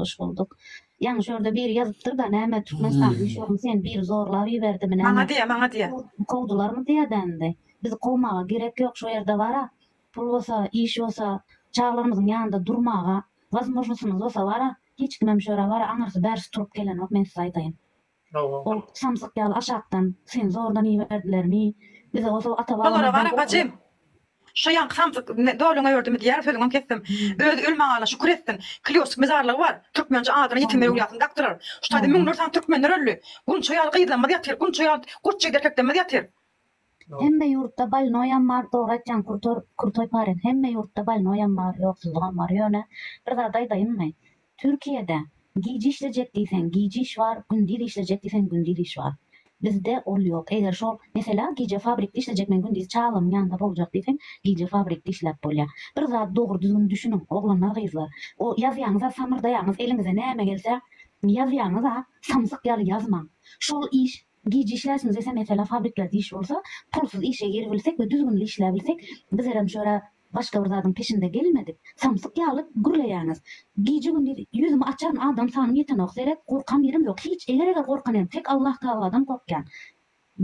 Hoş bolduk. Ýaňy şorda biri ýazypdyr da näme Türkmenistanyň işogyny sen biri zorlap iberdibi näme. Maňa diýýä maňa diýýä. Kowdularmy diýýä dändi. Bizi kowmaga gerek ýok şo ýerde bara pul bolsa iş bolsa çagalarymyzyň ýanynda durmaga wazmožnosymyz bolsa bara hiç kimem şo ýere bara aňyrsy bärsi turup gelenok men size aýdaýyn. Ol samsyk ýaly aşakdan, Seni zordan iberdilermi? Bizi goşa ata-babalardan gorkuzdylar. Gara bajy, şo ýaňky samsyk doluňa ördümi diýýär, sözüňem kesdim. Özi ölmagana şükür etsin. Klýoşik mezarlygy bar. Türkmençe adyna ýetim öwlüýasyny dakdylar. Şu taýda müňlerçe sany türkmenler öldi. Gunça ýaly gyzlarymyz ýatyr, gunça ýaly goçjygyt erkeklerimiz ýatyr. Hemme ýurtda balnoýam bar dogry aýtýaň kurtor kurtoý pare hemme ýurtda balnoýam bar ýoksuzlygam bar ýöne bir zat aýdaýynmy türkiýede gije işlejek diýseň gije iş bar gündiz işlejek diýseň gündiz iş bar bizde ol ýok eger şol meselä gije fabrikde işlejek men gündiz çagamyň ýanynda boljak diýseň gije fabrikde işläp bolýar bir zat dogry düzgün düşüniň oglanlar gyzlar o ýazýaňyza samyrdaýaňyz eliňize näme gelse ýazýaňyza samsyk ýaly ýazmaň şol iş Gije işläsimiz ese mesele fabriklerde iş bolsa, pulsuz işe giribilsek we düzgünli işläbilsek, bizlerem şu ýere başga bir zadyň peşinde gelmedik. Samsyk ýaly gürleýäňiz. Gije-gündiz ýüzümi açaryn adam sanym ýetenok seret, gorkan ýerim ýok hiç, eger-eger gorkan hem tek Allah Tagaladan gorkýan.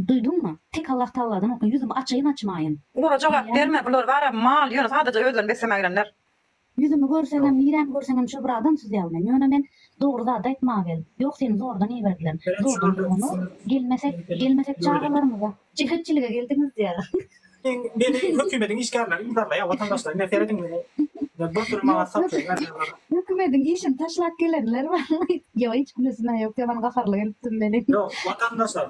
Duýduňmy? Tek Allah Tagaladan gorkýan, ýüzümi açaýyn-açmaýyn. Bulara jogap berme bular bara mal ýöne sadaja özlerini beslemägelenler. Ýüzümi görseňem, niremi görseňem şo bir adam süzýär meni. Ýöne men dogry zady aýtmaga geldim. Ýok, seni zordan iberdiler. Zordan bolmany, gelmesek, gelmesek çagalarymyza. Jelepçilige geldiňiz diýýär. Meni hökümediň işgärleri yzarlaýar, watandaşlar ine serediň meni. Bir sürü maňa satýar ýarylar. Hökümediň işini taşlap gelenler barmy? Ýok hiç kimesine ýok diýip ony gaharly gelipdim meni. Ýok, watandaşlar.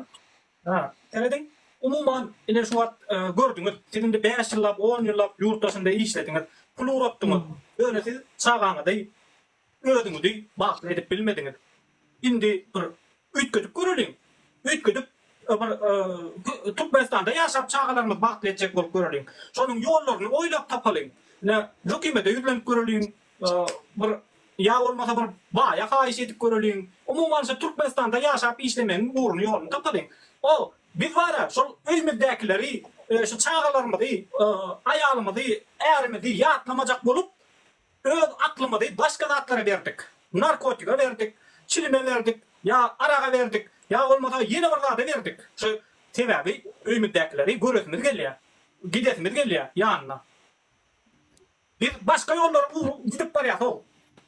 Haa. Serediň. Umuman, ine şu wagt gördüňiz. Siz indi bäş ýyllap, on ýyllap ýurt daşynda işlediňiz. Pul ugratdyňyz. Ýöne siz çagaňyzy, özüňizi bagtly edip bilmediňiz. Indi bir üýtgedip göreliň. Üýtgedip, bir Türkmenistanda ýaşap, çagalarymyzy bagtly etjek bolup göreliň. Şonuň ýollaryny oýlap tapalyň. Ine, hökümete ýüzlenip göreliň. Bir ýa bolmasa bir baýa haýyş edip göreliň. Umumy alşa Türkmenistanda ýaşap işlemegiň ugruny ýoluny tapalyň. Ol biz bara şol öýmüzdekileri şu çagalarymyzy, aýalymyzy, ärimizi ýatlamajak bolup öz aklymyzy başga zatlara berdik. Narkotige berdik, çilime berdik, ýa araga berdik, ýa bolmasa ýene bir zada berdik. Şu sebäbi öýmüzdekileri göresimiz gelýä, gidesimiz gelýä ýanyna. Biz başga ýollary urup gidip barýasog.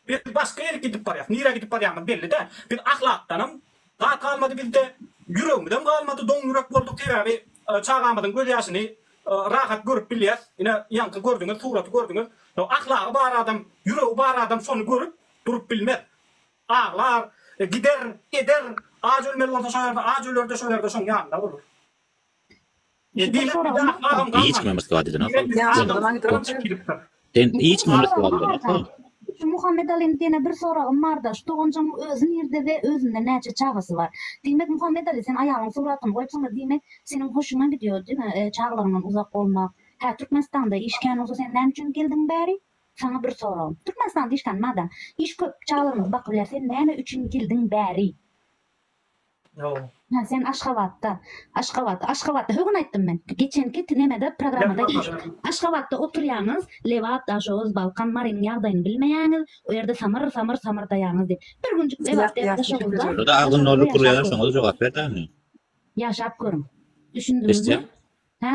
Biz başga ýerik gidip barýas. Nirä gidip barýamyz belli däl. Biz ahlakdanam zat galmady bizde, ýüregimizem galmady, doň ýürek bolduk sebäbi çagamyzyň göz ýaşyny rahat görüp bilýäs. Ine ýaňky gördüňiz suraty gördüňiz. Ýok ahlagy bar adam, ýüregi bar adam şony görüp durup bilmez. Aglar, gider, eder, aç ölmeli bolsa şo ýerde aç öler-de şo ýerde şoň ýanynda bolar. Ýekeje soragym bar. Hiç kime Moskwa diýdin ahal. Sen hiç kime Moskwa diýdin ahal. Şu Muhammet Aliniň diýene bir soragym bar da, şu doganjygyň özi nirde we özünden näçe çagasy bar? Diýmek Muhammet Ali sen aýalyň suratyny goýupsyňda diýmek seniň hoşuňa gidýo diňe çagalaryňdan uzak bolmak. Hä Türkmenistanda iş kän bolsa sen näme üçin geldiň bäri? Saňa bir soragym. Türkmenistanda iş kän madam iş köp çagalarymyzy bakyp biler sen näme üçin geldiň bäri? Hä sen Aşgabatda. Aşgabat. Aşgabatda högün aýtdym men. Geçenki nemede programmada Aşgabatda oturýaňyz Lebap Daşoguz Balkan Marynyň ýagdaýyny bilmeýäňiz o ýerde samyr samyr samyrdaýaňyz diýip. Bir günjük Lebap däl Daşoguzda. Şoda agzyny dolduryp gürleýäňiz şoňa-da jogap ber daýy. Ýaşap görüň. Düşündiňizmi? Hä?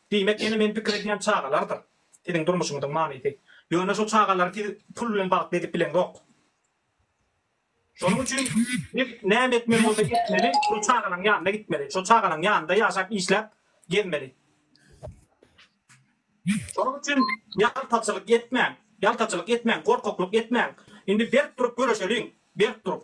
Diýmek, ene men pikir edýän çagalardyr siziň durmuşyňyzyň manysy. Ýöne şo çagalary siz pul bilen bagtly edip bileňzok. Şonuň üçin siz näme etmeli bolsa etmeli, şo çagalaň ýanyna gitmeli, şo çagalaň ýanynda ýaşap işläp gezmeli. Şonuň üçin ýaltaçylyk etmäň, ýaltaçylyk etmäň, gorkaklyk etmäň. Indi berk durup göreşeliň, berk durup.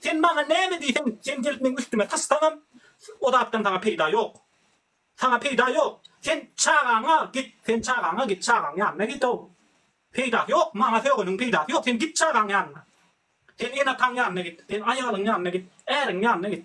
Sen maňa näme diýseň, sen gelip meň üstüme tyssaňam, o zatdan saňa peýda ýok. Saňa peýda ýok. Sen çagaňy al, git, sen çagaňa git, çagaň ýanyna git-ow. Peýdasy ýok, maňa sögeniň peýdasy ýok, sen git çagaň ýanyna. Sen ene-ataň ýanyna git, sen aýalyň ýanyna git, äriň ýanyna git.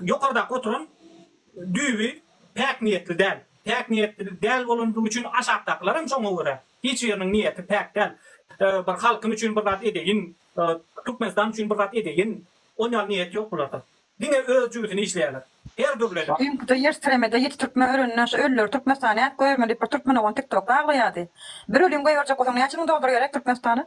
Ýokardaky oturan düýbi päk niýetli däl. Päk niýetli däl bolandygy üçin aşakdakylaram şoňa görä. Hiç biriniň niýeti päk däl. Bir halkym üçin bir zat edeýin, Türkmenistan üçin bir zat edeýin, ol ýaly niýet ýok bularda. Diňe öz jübüsini işleýärler. Her dürli edip. Öňküde ýer titremede ýedi türkmen ölenine şu ölüleri Türkmenistana äkip goýaryn diýip bir türkmenogon tiktokda aglaýardy. Bir ölüni goýberjek bolsaň näçe müň dollar gerek Türkmenistana?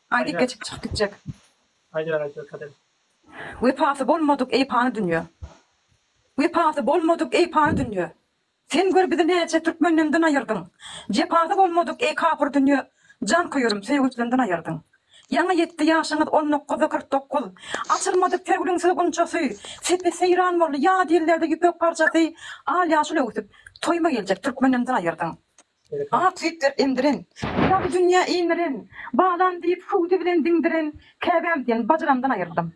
Gaýdyp geçip çykyp gitjek. Wepasy bolmadyk eý pany dünýe. Wepasy bolmadyk eý pany dünýe. Sen gör bizi näçe türkmenden dyn aýyrdyň. Jepasy bolmadyk eý kapyr dünýe. Jan köýerim söýgüsden dyn aýyrdyň. Ýaňy ýetdi ýaşyňyz on nokkuza kyrk dokuz. Açylmady pegluňsyz gunçasy. Sepi seýran boldy ýat ýellerde ýüpek parçasy. Al ýaşyl öwsüp toýuma geljek türkmenden dyn aýyrdyň. Ak sepder endiren, dagy dünýä iňiren, Balam diýip, hüwdi bilen diňdiren, Käbäm diýen bajyramdan aýyrdym.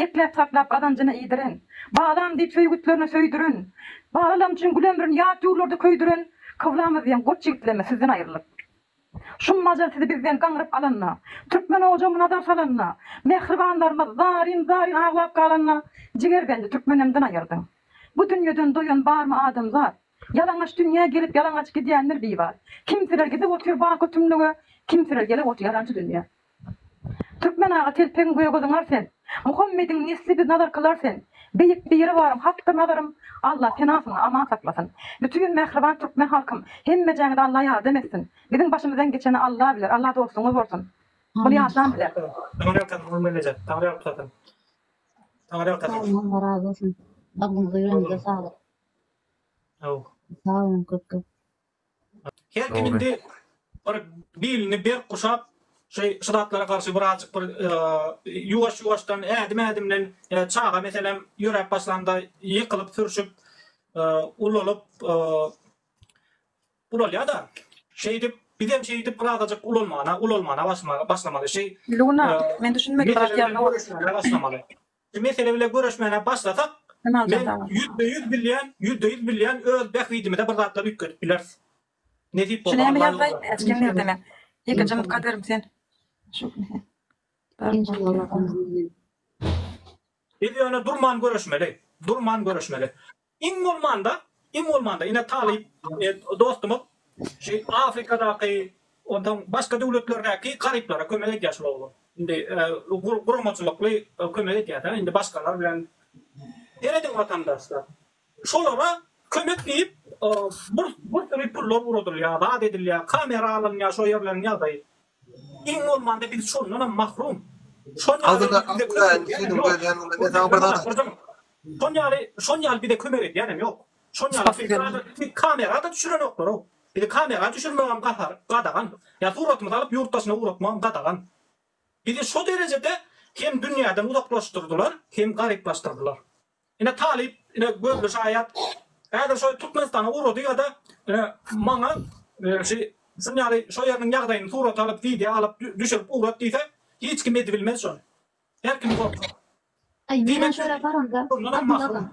Ekläp, saklap, gazanjyna iýdiren, Balam diýip, söýgütlerine söýdüren, Balalarym üçin gül ömrün ýat ýurlarda köýdüren, Kyblamyz diýen goç ýigitlerime sizden aýrylyp. Şum ajal sizi bizden gaňryp alanda, Türkmen ojagma nazar salanda, Mähribanlarymyz zaryn-zaryn aglap galanda, Jigerbendi türkmenemden aýyrdyň. Bu dünýeden doýan barmy adamzat? Ýalaňaç dünýä gelip ýalaňaç gidýänler bi bar. Kimseler gidip otyr baky tümlüge, kimseler gelip otyr ýalançy dünýä. Türkmen aga telpegiň gögöziňar sen. Muhammediň nesli biz nazarkylar sen. Beýik Biribaryň hakdyr nazarym Alla penasyna aman saklasyn. Bütin mähriban türkmen halkym hemmejäňize Alla ýardam etsin. Biziň başymyzdan geçeni Alla biler Alla dostuňyz bolsun bul ýaşan bize. Taňyrýalkasyn Gul Mellejek Taňyrýalkasyn Taňyrýalkasyn. Sagbolun Allah razy bolsun bagryňyza ýüregiňize saglyk. Aw. Sag boluň köp köp. Her kim indi bir bilini berk guşap şu şu zatlara garşy birazjyk bir ýuwaş ýuwaşdan ädim ädimden çaga meselem ýöräp başlanda ýykylyp sürşüp ulalyp ulalýada şeýdip bizem şeýdip birazajyk ulalmana ulalmana başlamaly şeý Luna men düşünmedim başlamaly. Şu mesele bile göreşmäne başlasak men ýüzde ýüz bilýän ýüzde ýüz bilýän öz bähbidimize bir zatlar üýtgedip bileris. Nesip bolsa Alla ýolunda bolarys. Ikinji mutka derim sen. Biz ýöne durman göreşmeli. Durman göreşmeli. Iň bolmanda, iň bolmanda ine talyp dostumyz şu Afrikadaky, onsoň başga döwletlerdäki garyplara kömek edýär şul oglan. Indi guramaçylykly kömek edýär-dä, indi başgalar bilen. Serediň watandaşlar, şolara kömek diýip bir bir sürü pullar ugradylýar, zat edilýär, kamera alynýar, şo ýerleriň ýagdaýy. Iň bolmanda biz şondanam mahrum. Şon ýaly bize kömek edýänem ýok. Şon ýaly, şon ýaly bize kömek edýänem ýok. Şon ýaly söýgi adaty klip kamera-da düşürenoklar-ow. Bizi kamera düşürmegem gahar, gadagan. Ýa suratymyzy alyp ýurt daşyna ugratmagam gadagan. Bizi şo derejede hem dünýäden uzaklaşdyrdylar, hem garyplaşdyrdylar. Ine talyp ine gözli şaýat häzir şo Türkmenistana ugrady ýa-da ine maňa şi şun ýaly şo ýeriniň ýagdaýyny surat alyp wideo alyp düşürip ugrat diýse hiç kim edibilmez şony. Her kim gorkar. Aý menem şo ýere baranda Abdylla aga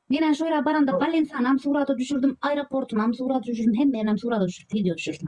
menem şo ýere baranda Ballinsanam surata düşürdim aeroportunam surata düşürdim hemmenam surata düşürip wideo düşürdim.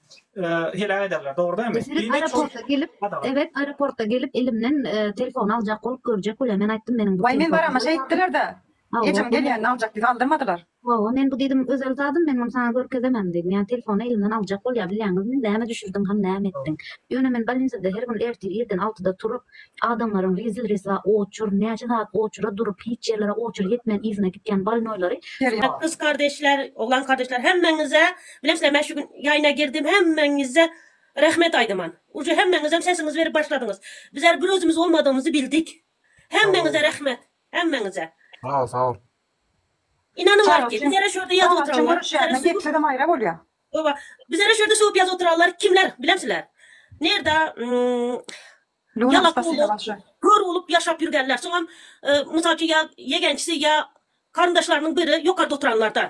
heläk ederler. Dogry dämi? Meselem aeroporta gelip, evet aeroporta gelip elimden telefon aljak bolup görjek bolýar. Men aýtdym meniň bu. Waý men barama şeý etdiler-de. Ejem gelýände aljak diýip aldyrmadylar. Hawa men bu diýdim özel zadym men muny saňa görkezemem diýdim. Ýa telefony elimden aljak bolýar bilýäňizmi? Näme düşürdiň hany näme etdiň? Ýöne men bolnisada her gün ertir irden altyda turup adamlaryň rezil reswa oçur näçe sagat oçura durup hiç ýerlere oçur ýetmän yzyna gitýän bolnoýlary. Kys kardeşler oglan kardeşler hemmeňize Bilesler men şu gün ýaýyna girdim hemmeňize rehmet aýdaman. Uje hemmeňizem sesiňizi berip başladyňyz. Bizler bir özümiz bolmadygymyzy bildik. Hemmeňize rehmet. Hemmeňize. Sag sag ol. Inanyň arki bizlere şu ýerde ýazyp oturanlar. Çuňňur şäherine getsezem aýra bolýa. Oba. Bizlere şu ýerde söwüp ýazyp oturanlar kimler bilemsiler? Nirde ýalak bolup, kör bolup ýaşap ýürgenler. Soňam mysal üçin ýa ýegençisi ýa garyndaşlarynyň biri ýokarda oturanlardan.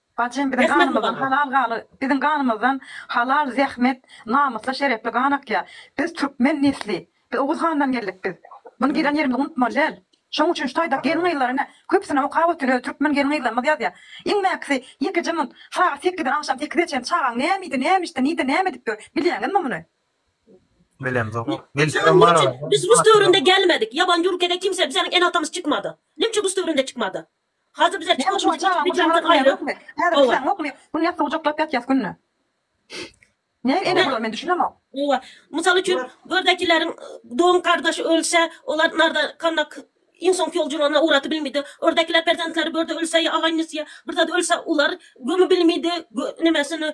Bajym biziň ganymyzdan halal gany biziň ganymyzdan halal zähmet namysly şerefli gan akýa biz türkmen nesli biz oguz handan geldik biz muny gelen ýerimiz unutmaly däl şoň üçin şu taýdak gelin gyzlar ine köpüsini okap otyr öz türkmen gelin gyzlarymyz ýazýa iň mäkisi ýekeje mun sagat sekizden agşam sekize çen çagaň näme iýdi näme içdi nide näme edip ýör bilýäňizmi muny. Bilemzok bilsem barada. Biz rus döwründe gelmedik, ýabanjy ülkede kimse bizeniň ene atamyz çykmady. Nimçe rus döwründe çykmady? Hajy bize çykyş üçin iki bijansyz gaýry Hawa. Günde suw joklap ýatýas günde. Näme ene bolar men düşünemok. Hawa. Mysal üçin gördäkileriň doň gardaşy ölse olar narda kalmak iň soňky ýol jurana ugraty bilmidi. Ördäkiler perzentleri börde ölse ýa agaýnisy ýa bir zady ölse olar gömi bilmidi nemesini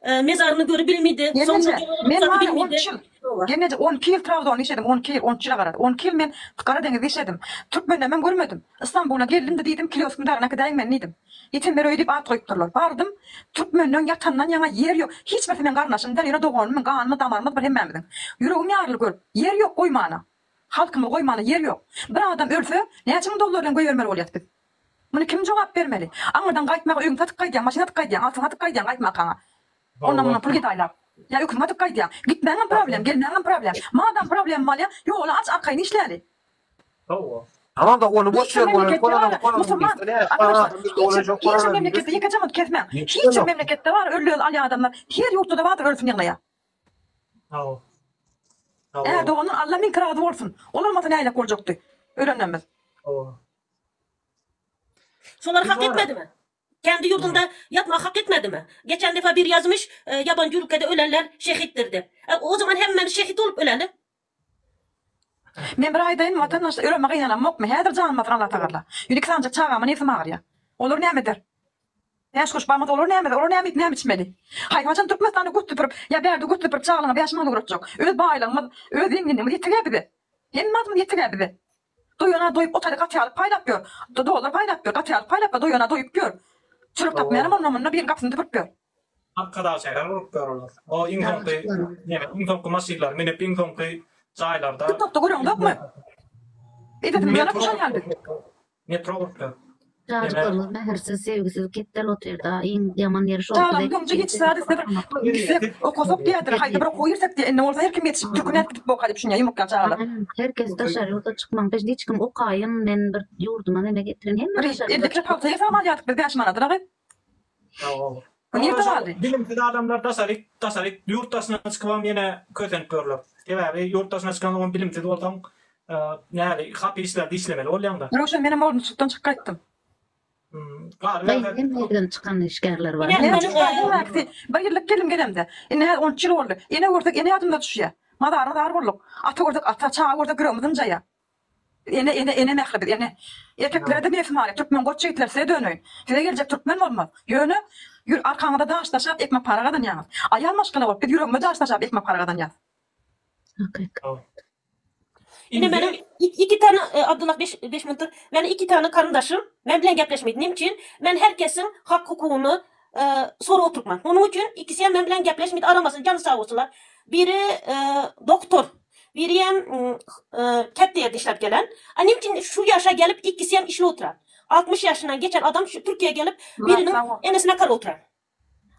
Mezaryny göri bilmidi. Soňra doga men okzady many on iki ýyl, Geňeje, on iki ýyl Trabzonda işledim, on iki ýyl, on üç ýyla garar, on iki ýyl men Gara deňizde işledim. Türkmenlemem görmedim. Istanbula geldim-de diýdim, Kilýoskyň dagyna äkidaýiň meni diýdim. Ýetenler öýi diýip at goýup durlar. Bardym, türkmenleň ýatandan ýaňa ýer ýok. Hiç birisi meň garyndaşymdyr, ýöne doganymyň ganymy damarymyz bir hemmämiziň. Ýüregim ýaryly görüp. Ýer ýok goýmana. Halkymyzy goýmana ýer ýok. Bir adam ölse, näçe müň dollar bilen göýbermeli bolýas biz. Muny kim jogap bermeli? Aňyrdan gaýtmaga öýüňi satyp gaýdýaň, maşyn atyp gaýdýaň, altyn satyp gaýdýaň gaýtma akaňa. Ondan-mundan pul gedaýlap. Ýa öküňi atyp gaýdýaň. Gitmäňem problem, gelmäňem problem. Madam problemy bolýa, ýoly aç, arkaýyn işläli. Hawa-da, ony boş ýer bolany kolanam kolanam diýsin. Ine, şol adamda dolajak bolan adam diýsin. Hiç bir memleketde ýekeje muny kesmäň. Hiç bir memleketde bar, öl-öl alýan adamlar. Her ýurtda-da bardyr ölsin ýyglaýa. Ärdoganyň Alla müňki razy bolsun. Ol bolmasa näýlek boljakdy? Ölenlerimiz. Solar hak etmedimi? Kendi ýurdunda ýatmak hak etmedimi? Geçen defa biri ýazmyş, ýaban jürkede ölenler şehitdir dep. O zaman hemmemiz şehit bolup öleli. Men bir aýdaýyn watandaş öleme gyýanamokmy häzir janym alsyn Allah tagalla ýüne iki sanjak çagama nebsim agyrýa olar näme eder bäş gurş bagmyz olar näme eder olar näme iýip näme içmeli haýsy haçan türkmenistanda göt süpürip ýa bärde göt süpürip çagalaňa bäş manat ugratjak öz baýlygymyz öz zenginligimiz ýetegä bize hemme adymyz ýetegä bize. Doýana doýup otary gaty alyp paýlap ýör. Dollar paýlap ýör, gaty alyp paýlap ýör, doýana doýup ýör. Çörek tapmaýanam onda munda biriň gapysyny düpürip ýör. Arkadag şäher gurup ýör olar. O iň soňky neme iň soňky maşynlary münüp iň soňky jaýlarda. Tiktokda göreňzokmy? Edesim gelende tuşan ýaly biz. Metro gurup ýör. Jadykorlar mähirsiz, söýgüsiz ketdel otyrda, iň ýaman ýeri şol. Talam ýoňja hiç zat isledir. Gitsek, okasak diýädir, haýsy bir okuwa girsek diýýär. Indi bolsa her kim ýetişip, türkmen aýdip gidip okar diýip düşünýär ýumrukýan çagalar. Her kes daşary ýurda çykmaň, biz hiç kim okaýyn, men bir ýurduma meme getirin, hemme daşary ýurda çykyp. Indi bir pagta ýasap alýardyk biz bäş manada-da gyz. Bilimsiz adamlar daşaryk, daşaryk ýurt daşyna çykybam ýene kösenip ýörler. Sebäbi ýurt daşyna çykansoňam bilimsiz bolsaň, näli hap işlerde işlemeli bolýaňda. Röwşen menem Olmutçykdan çyk gaýtdym. Gaýyn gelmeden çykan işgärler bar. Birlik gelin gelemde. Indi häzir on üç ýyl boldy. Ene görsek ene ýadymyza düşýä. Mazara zar bolduk. Ata görsek ata, çaga görsek ýüregimiz ynjaýa. Ene ene ene mähri biz ene. Erkeklere-de nefsi many, türkmen goç ýigitler size döneýin. Size geljek türkmen bolmaz. Ýöne Ýür arkaňyza daş daşap ekmek para gazanýaňyz. Aýal maşgala bolup biz ýüregimize daş daşap ekmek para gazanýas. Hakykat. Ine meniň iki tane Abdullah beş beş muntyr meniň iki tane karyndaşym men bilen gepleşmeýdi. Näme üçin? Men her kesiň hak hukugyny sorap oturpman. Onuň üçin ikisem men bilen gepleşmeýdi. Aramasyn jany sag bolsunlar. Biri doktor Birem käte ýerde işläp gelen. A nemçin şu ýaşa gelip ikisem işli otura. Altmyş ýaşyndan geçen adam şu Türkiýä gelip biriniň enesine kal otura.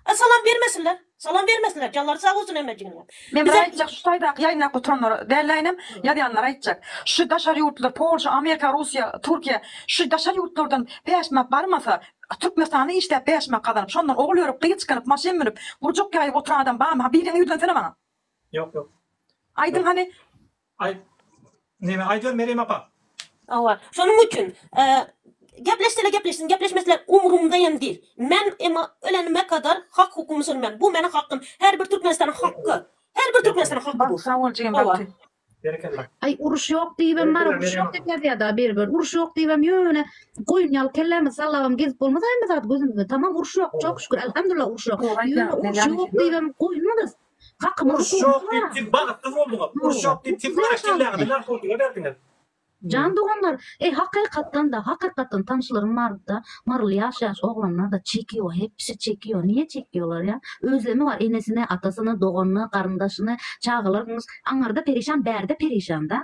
A salam bermesinler. Salam bermesinler. Janlary sag bolsun hemmejiginiňem. Men bir aýtjak şu taýdaky ýaýnlap oturanlara dälde inem ýazýanlara aýtjak. Şu daşary ýurtlar Polşa, Amerika, Russiýa, Türkiýä şu daşary ýurtlardan päşmak barmasa Türkmenistanda işläp päşmak gazanyp şondan ogul örüp gyz çykanyp maşyn münüp gurjak ýaýyp oturan adam barmy ha biriňi ýüzlensene maňa. Ýok ýok. Aýdyň hany. Aý Neme aýdýar Merýem apa. Hawa. Şonuň üçin Gepleşseler gepleşsin, gepleşmeseler umrumda hem dil. Men emma ölenime kadar hak hukumy sürmem. Bu meniň hakym. Her bir Türkmenistanyň hakky. Her bir Türkmenistanyň hakky bu. Sag bol jigim bagty. Berekella. Aý uruş ýok diýibem bar uruş ýok diýip ýazýada bir bir uruş ýok diýibem ýöne goýun ýaly kellämizi sallabam gezip bolmaz aý bir zat gözümizde tamam uruş ýok çok şükür alhamdullah uruş ýok ýöne uruş ýok diýibem goýunmyzys Uruş ýok diýip siz bagtsyz bolduňyz. Uruş ýok diýip siz Maraş jellagynda narkotika berdiňiz. Jan doganlar, eý hakykatdanda, hakykatdan tanşlarym bardyda, maryly ýaş ýaş oglanlarda çekiýo, hepsi çekiýo, niýe çekiýolar ýa, özlemi bar enesini, atasyny, doganyny, garyndaşyny, çagalarmyş, aňarda perişan bärde perişanda.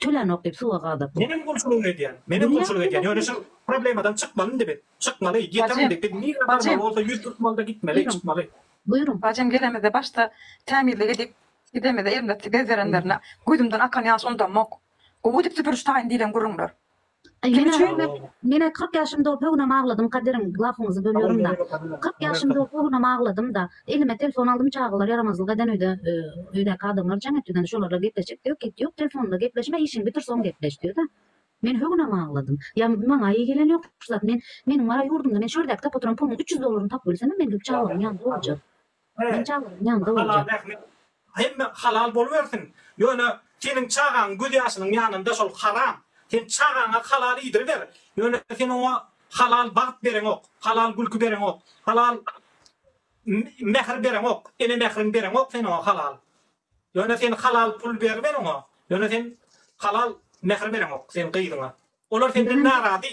Tölanok diýip suwa gazapdyr. Menem gulçulyk edýän, menem gulçulyk edýän, ýöne şol problemadan çykmaly indi biz. Çykmaly, ýeter indi. Biz nirä barmaly bolsa ýüz tutmaly-da gitmeli, çykmaly. Buýruň. Bajym gelemizde başda tämizlik edip gidemizde elimde bez berenlerine gözümden akan ýaş ondamok. Gowy edip süpüriş taýyn diýlen gürrüňler. Kim üçin? Menä kyrk ýaşym dolup höwünem agladym Kadyryň lafyňyzy bölýärmda. Kyrk ýaşym dolup höwünem agladymda. Elime telefon aldym çagalar ýaramazlyk eden öýde öýdäki adamlar jaň etdiden şolarla gepleşjek diýip git ýok telefonda gepleşme işiň bitir soň gepleş diýdi. Men höwünem agladym. Ýa maňa eý gelen ýok şu zat men meniň bar ýurdumda men şu ýerdäki tapyp oturan puluň üç ýüz dollaryny tapyp bilsemem men gelip çagalaryň ýanynda oljak. He. Halal zähmet hemme halal bolubersin. Ýöne seniň çagaň göz ýaşynyň ýanynda şol haram. Sen çagaňa halal iýdiriber. Ýöne sen oňa halal bagt bereňok, halal gülki bereňok, halal mähir bereňok, ene mähriň bereňok sen oňa halal. Ýöne sen halal pul beriber oňa. Ýöne sen halal mähir bereňok sen gyzyňa. Olar senden narazy.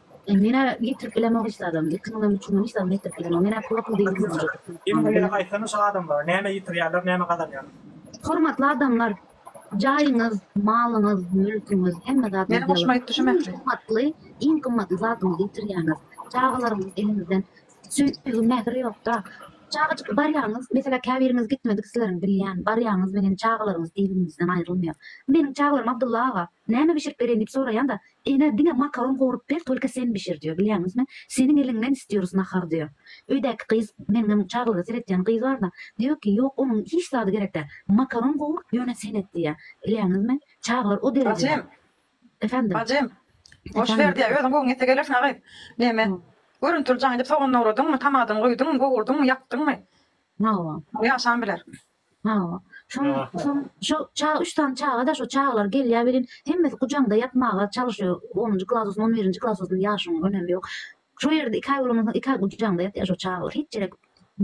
Menä getirip bilemok hiç zadam. Iki müňden üç müňden hiç zat getirip bilemok. Menä pula pul diýen zat ýok. Ýene bilelik aýtsana şu adamlara näme ýitirýärler näme gazanýarlar. Hormatly adamlar jaýyňyz malyňyz mülküňiz hemme zat Meni hoşuma gitdi şu mähri. Gymmatly iň gymmatly zadyňyzy ýitirýäňiz. Çagalaryňyz eliňizden söýgi mähir ýokda. Çagajyk barýaňyz meselä käbiriňiz gitmedik sizleriň bilýän barýaňyz menen çagalaryňyz eliňizden aýrylmaýar. Meniň çagalaryma Abdylla aga näme bişirip bereýin diýip soraýanda Ene diňe makaron gowrup ber tolka sen bişir diýo bilýäňizmi seniň eliňden istiyoruz nahar diýo öýdäki gyz meniňem çaglyga seretýän gyz barda diýo ki ýok onuň hiç zady gerek däl makaron gowur ýöne sen et diýýä bilýäňizmi çaglar o derejede Efendim Bajym boş ber diýýä özüň göwün ýetse gelersiň a gyz neme görüntüli jaň edip sogan dogradymmy tamadyny guýdymmy gowurdyňmy ýakdyňmy hawa ýaşan biler. Hawa. Şoň şoň şo ça üç sany çaga-da şo çagalar gelýär welin, hemmesi gujaňda ýatmaga çalyşýar. Onunjy klasusy, on birinji klasusy ýaşyň önemi ýok. Şo ýerde iki aý bolandan soň iki aý gujaňda ýatýar şo çagalar. Hiç ýere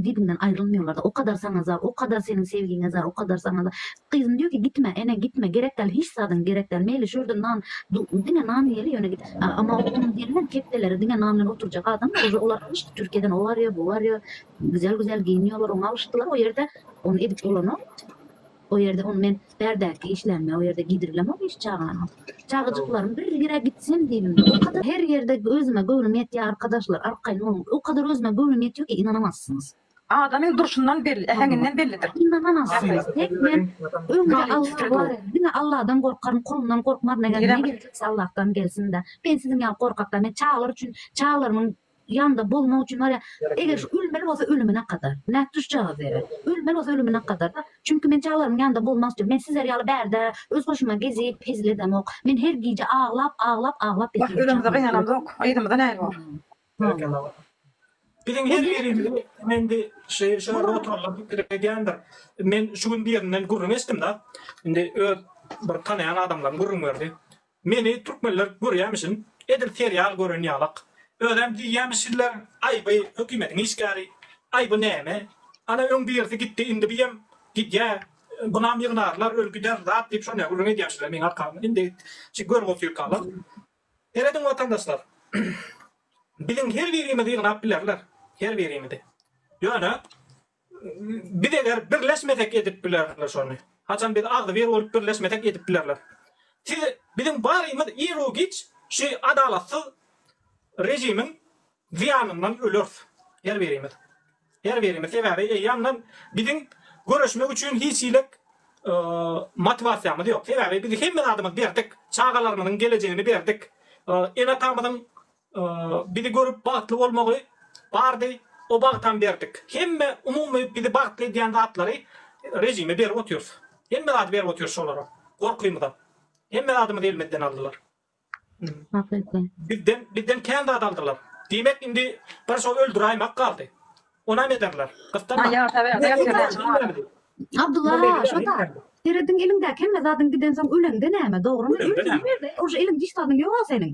dibiňden aýrylmaýarlar-da. O kadar saňa zar, o kadar seniň sevgiňe zar, o kadar saňa zar. Gyzym diýýär ki, gitme, ene, gitme, gerek däl, hiç zadyň gerek däl. Meýli şu ýerde nan, du, diňe nan iýeli, ýöne git. A, emma onuň gelinem kepdeleri diňe nan bilen oturjak adam-da, olar gylyşdy, Türkiýeden o barýar, bu barýar. Güzel güzel giyinýolar oňa alyşdylar o ýerde ony edip bolanok o ýerde ony men bärdäki işlämde o ýerde giydirlemok hiç çagany çagajyklarym bir ýere gitsin diýdim o kadar her ýerde özüme göwnüm ýetýär arkadaşlar arkaýyn boluň o kadar özüme göwnüm ýetýär ki ynanamazsyňyz. Adamyň durşundan belli äheňinden bellidir. Ynanamazsyňyz tek men öňde Allah bar diňe Allahdan gorkaryn kulundan gorkmaryn eger ne geljekse Allahdan gelsin-de men siziň ýaly gorkak däl men çagalar üçin çagalarymyň Ýanda bolmak üçin barýa. Eger şu ölmeli bolsa ölümine kadar. Nädip düşjagaz ýere. Ölmeli bolsa ölümine kadar da. Çünki men çagalarymyň ýanynda bolmak isleýän. Men sizler ýaly bärde öz hoşuma gezip hezil edemok. Men her gije aglap aglap aglap Wah ýatyram özümizde çagalar gynanan ýok. Yzymyzda näme bor. Berekella wah. Biziň her birimizi men bi şeýle şeýle oturanlar pikir edýändir. Men şu gün birinden gürrüň eşdim da. Indi öz bir tanaýan adamlarym gürrüň berdi. Meni türkmenler görýämişin edil serial gören ýalak. Özem diýýämiş sizler aýby hökümetiň işgäri, aýby näme? Ana öň birisi gitdi indi biem gidýä bunam ýygnarlar öl gider zat diýip şonä gürrüň edýämişler meň arkamdan indi şu görgotyrkalar. Serediň watandaşlar biziň her birimizi ýygnap bilerler her birimizi ýöne. Biz eger birleşmesek edip bilerler şony. Haçan biz agzy bir bolup birleşmesek edip bilerler. Siz biziň barymyz iru giç şu adalatsyz rejimiň zyýanyndan ölers. Her birimiz. Her birimiz sebäbi eýýamdan biziň göreşmek üçin hiç hilek motiwasiýamyz ýok. Sebäbi biz hemme zadymyz berdik. Çagalarymyzyň gelejegini berdik. Ene-atamyzyň Bizi görüp bagtly bolmagy bardy, o bagtam berdik. Hemme umumy bizi bagtly edýän zatlary režime berip otyrys. Hemme zady berip otyrys şolara. Gorkymyza. Hemme zadymyzy elimizden aldylar. Bizden bizden kän zat aldylar. Diýmek indi bir şo öldüräýmek galdy. Onam ederler. Gyssanma. Abdulla aga şo-da. Serediň eliňdäki hemme zadyň gidensoň öleňde näme, dogrymy? Öleňde näme? Ýerde uje eliň diş zadyň ýok-a seniň.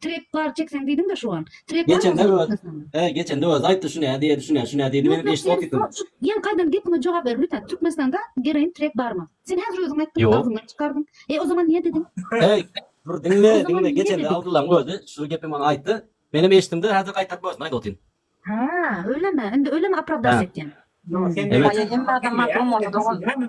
Trek bar çekseň diýdiň-de şu wan. Trek bar. Geçende öz. He, geçende öz aýtdy şu näde ýedi, şu näde, şu näde diýdi. Men eşidip otyryn. Ýene gaýdan gepime jogap ber lütfen. Türkmenistanda geroin trek barmy? Sen häzir özüň aýtdyň, agzyňdan çykardyň. E o zaman niýe diýdiň? He, bir diňle, diňle. Geçende Abdullaň özi şu gepi maňa aýtdy. Menem eşitdim-de häzir gaýtaryp özüne aýdyp otyryn. Ha, öylemi? Indi öylemi aprawdaş etýäň? Ýok, sen. Emma sen hemme adama maklum bolsa dogan.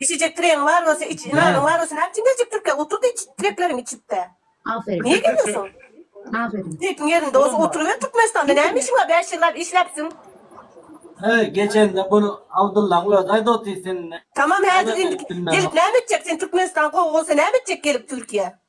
Içijek tiregiň bar bolsa iç, nanyň bar bolsa näme üçin geljek Türkiýä? Otur-da iç, tirekleriňi içip-de. Aferin. Niýe gelýärsiň? Aferin. Tirekiň ýerinde bolsa oturyber Türkmenistanda. Näme işiň bar? Bäş ýyllap işläpsiň. Heý, geçende bunu Abdyllaň özi aýdy otyr seninle. Tamam häzir indi gelip näme etjek? Sen Türkmenistan gowy bolsa näme etjek gelip Türkiýä?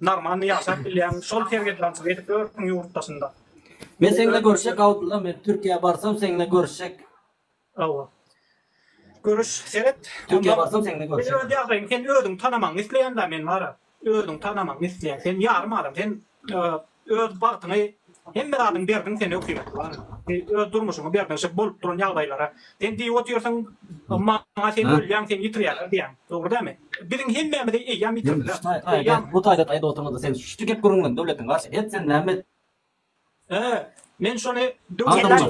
Normalny ýaşap bilýän şol sergeddançylyk edip ýörüň ýurt daşynda. Men seňle görüşjek Abdylla men Türkiýä barsam seňle görüşjek. Hawa. Görüş seret. Türkiýä barsam seňle görüşjek. Öz ýagdaýyň sen özüň tanamagyňy isleýän da men bara. Özüň tanamagyňy isleýän. Sen ýarym adam. Sen Öz bagtyňy hemme zadyňy berdiň sen ökime. Öz durmuşyňy berdiň şo bolup duran ýagdaýlara. Sen diýip otyrsyň maňa sen ölýäň sen ýitirýärler diýýäň. Dogry dälmi? Biziň hemmämizi eýýäm ýitirdiler. Bu taýda taýda oturmazda sen şu gep gürrüňiňi döwletiň garşy et sen näme et. Hä men şony Babajan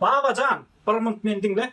Babajan bir munt meni diňle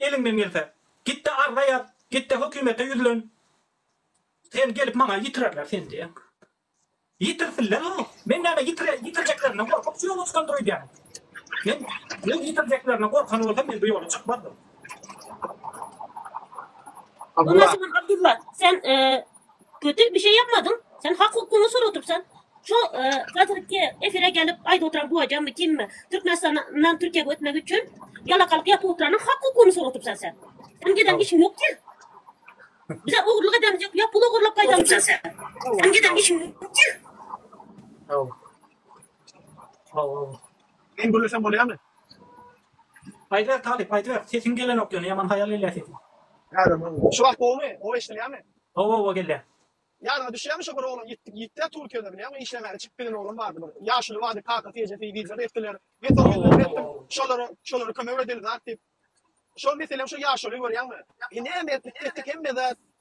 Eliňden gelse, git-de arza ýaz, git-de hökümete ýüzlen. Sen gelip maňa ýitirerler seni diýýän. Ýitirsinler-ow! Men näme, ýitirjeklerinden gorkup şu ýola çykandyr öýdýäňmi? Men öz ýitirjeklerine gorkan bolsam, men bu ýola çykmazdym. Abdylla. Ondan soň Abdylla, sen Köte bir şey yapmadyň. Sen hak hukugyňy sorap otursan. Şu hazirki efire gelip aýdyp oturan bu ajammy kimmi? Türkmenistandan Türkiýä götmek üçin ýalakalyk yapyp oturanyň hak hukugyny sorap otursan sen. Sen giden işiň ýok ki. Bize ogurlyk edemiz ýok. Ýa pul ogurlap gaýdamysan sen. Sen giden işiň ýok ki. Sag bol. Men gürlesem bolýamy? Aýtber Talyp aýtber sesiň gelenok ýöne ýaman haýal gelýä sesiň. Şu wagt gowumy? Gowy eşdilýämi? Gowy gowy gelýä. Ýadyňa düşýämi şo bir oglan ýitdik ýitdä Türkiýede bilýäňmi işlemäge çykyp giden oglan bardy bir ýaşuly bardy kakasy ejesi wideo etdiler men soň ýüzlenip etdim şolara şolara kömek edeli zat diýip şol meselem şo ýaşuly görýäňmi e näme etdik etdik hemme zat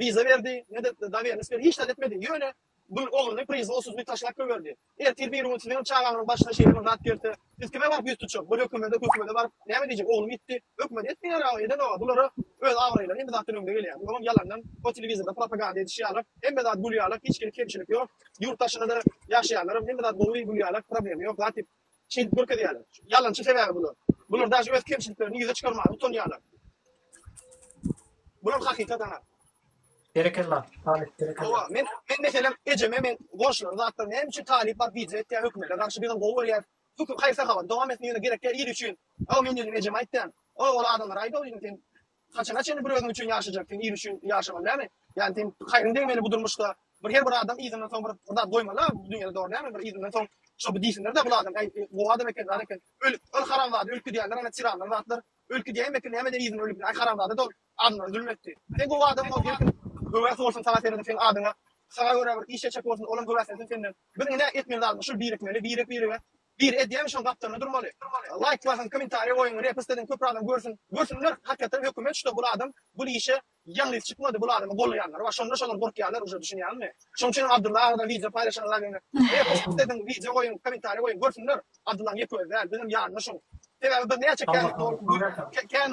wiza berdi, ne de dowernist berdi, hiç zat etmedi. Ýöne bu ogluny proizwolstwosy taşlap goýberdi. Ertir bir gün siziňem çagaňyzyň başyna şeýle bir zat gelse, siz kime baryp ýüz tutjak? Bu hökümede, hökümede baryp näme diýjek? Oglum gitdi, hökümet etmeýär-ä, eden-ow. Bulara öz abraýlary hemme zatdan öňde gelýär. Bular hem ýalandan o telewizorda propaganda ediş ýaly, hemme zat gülýärler, hiç hili kemçilik ýok. Ýurt daşynda-da ýaşaýanlaram hemme zat gowy gülýärler, problema ýok, zat ýok. Şeýdip görkezýärler. Ýalançy sebäbi bular. Bular daşy öz kemçiliklerini ýüze çykarmaga utanýarlar. Bular hakykat ana. Berekella, Talyp, berekella. Hawa, men men meselem ejeme men goşlar zatlar näme üçin talyp bar diýje etýär hökümete garşy bizem gowy görýär. Hukuk haýsy hawa dowam etmegine gerek ýer il üçin. Hawa men ýene ejeme aýtýan. O ol adamlar aýda ol ýene sen Haçana çenli bir özüň üçin ýaşajak, sen ýer üçin ýaşamaly dälmi? Ýani sen haýryň degmeli bu durmuşda. Bir her bir adam yzyndan soň bir zat goýmaly-a bu dünýäde dogry dälmi? Bir yzyndan soň şo bir diýsinler-de bul adam äý gowy adam eken, bar eken. Öl, öl haramzada öl gidýänler ana tiranlar zatlar. Öl gidýäýem eken näme eder yzyndan ölüp. Äý haramzada-da ol adamlara zulum etdi. Sen gowy adam bol gelsin. Höwes bolsun saňa seredip seň adyňa. Saňa görä bir iş etjek bolsun olam höweslensin senden. Biz ine etmeli zadymyz şul birikmeli birek birege Bir edýämi şoň gapdalynda durmaly. Laýk basyň komentariýa goýuň repst ediň köpri adam görsün. Görsünler hakykatan hökümet şuda bul adam bul işe ýalňyz çykmady bul adamy gollaýanlar bar şonda şolar gorkýarlar uje düşünýäňmi. Şoň üçinem Abdulla agada wideo paýlaşyň laýgyny repst ediň wideo goýuň komentariýa goýuň görsünler Abdullaň ýeke özi däl bizem ýanynda şoň sebäbi bir näçe kän kän.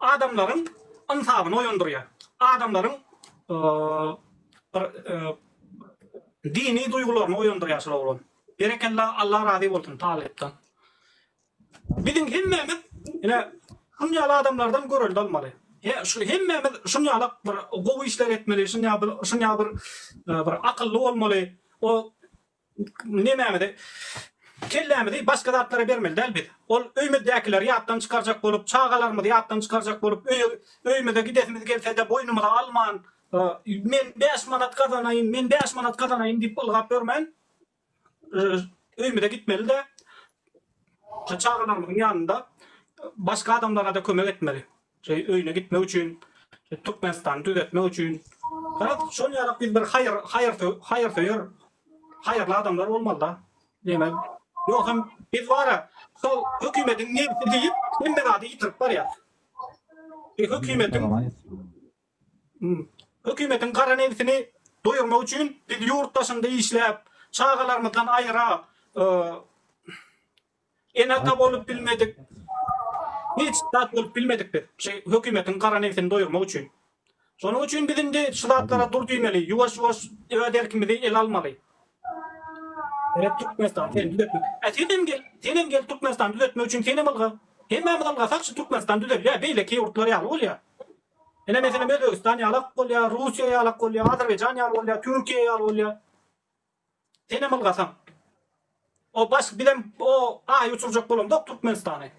Adamlaryň ynsabyny oýandyrýar. Adamlaryň bir dini duýgularyny oýandyrýar şol oglan. Berekella Allah razy bolsun talypdan. Biziň hemmämiz ine şuny ýaly adamlardan görelde almaly. He şu hemmämiz şuny ýaly bir gowy işler etmeli, şuny ýaly bir şuny ýaly bir bir akylly bolmaly. O Nemäňizi? Kellämizi başga zatlara bermeli däl biz. Ol öýmüzdäkileri ýatdan çykarjak bolup, çagalarymyzy ýatdan çykarjak bolup, öýe, öýümize gidesimiz gelse-de boýnumyza alman, men bäş manat gazanaýyn, men bäş manat gazanaýyn diýip ylgap ýörmän, öýümize gitmeli-de, çagalarymyzyň ýanynda başga adamlara-da kömek etmeli. Şeý öýüne gitmek üçin Türkmenistany düzetmek üçin Garaz şol ýalak biz bir haýyr haýyr haýyr söýer haýyrly adamlar bolmalyda diýmek ýogsam biz bara şol hökümediň nebsi diýip hemme zady ýitirip barýas e hökümediň hökümediň gara nebsini doýurmak üçin biz ýurt daşynda işläp çagalarymyzdan aýra Ene-ata bolup bilmedik, hiç zat bolup bilmedik biz, şu hökümetiň gara nebsini doýurmak üçin. Şonuň üçin biz indi şu zatlara dur diýmeli, ýuwaş-ýuwaş öz erkimizi ele almaly. Gerek Türkmenistan seni düzetmek. Ä senem gel, senem gel Türkmenistan düzetmek üçin senem ylga. Hemmämiz ylgasak şu Türkmenistan düzelýär, beýleki ýurtlar ýaly bolýar. Ine meselem Özbegistan ýalak bolýar, Russiýa ýalak bolýar, Azerbaýjan ýaly bolýar, Türkiýe ýaly bolýar. Senem ylgasaň. O baş bizem o aýy uçurjak bolamzok Türkmenistany.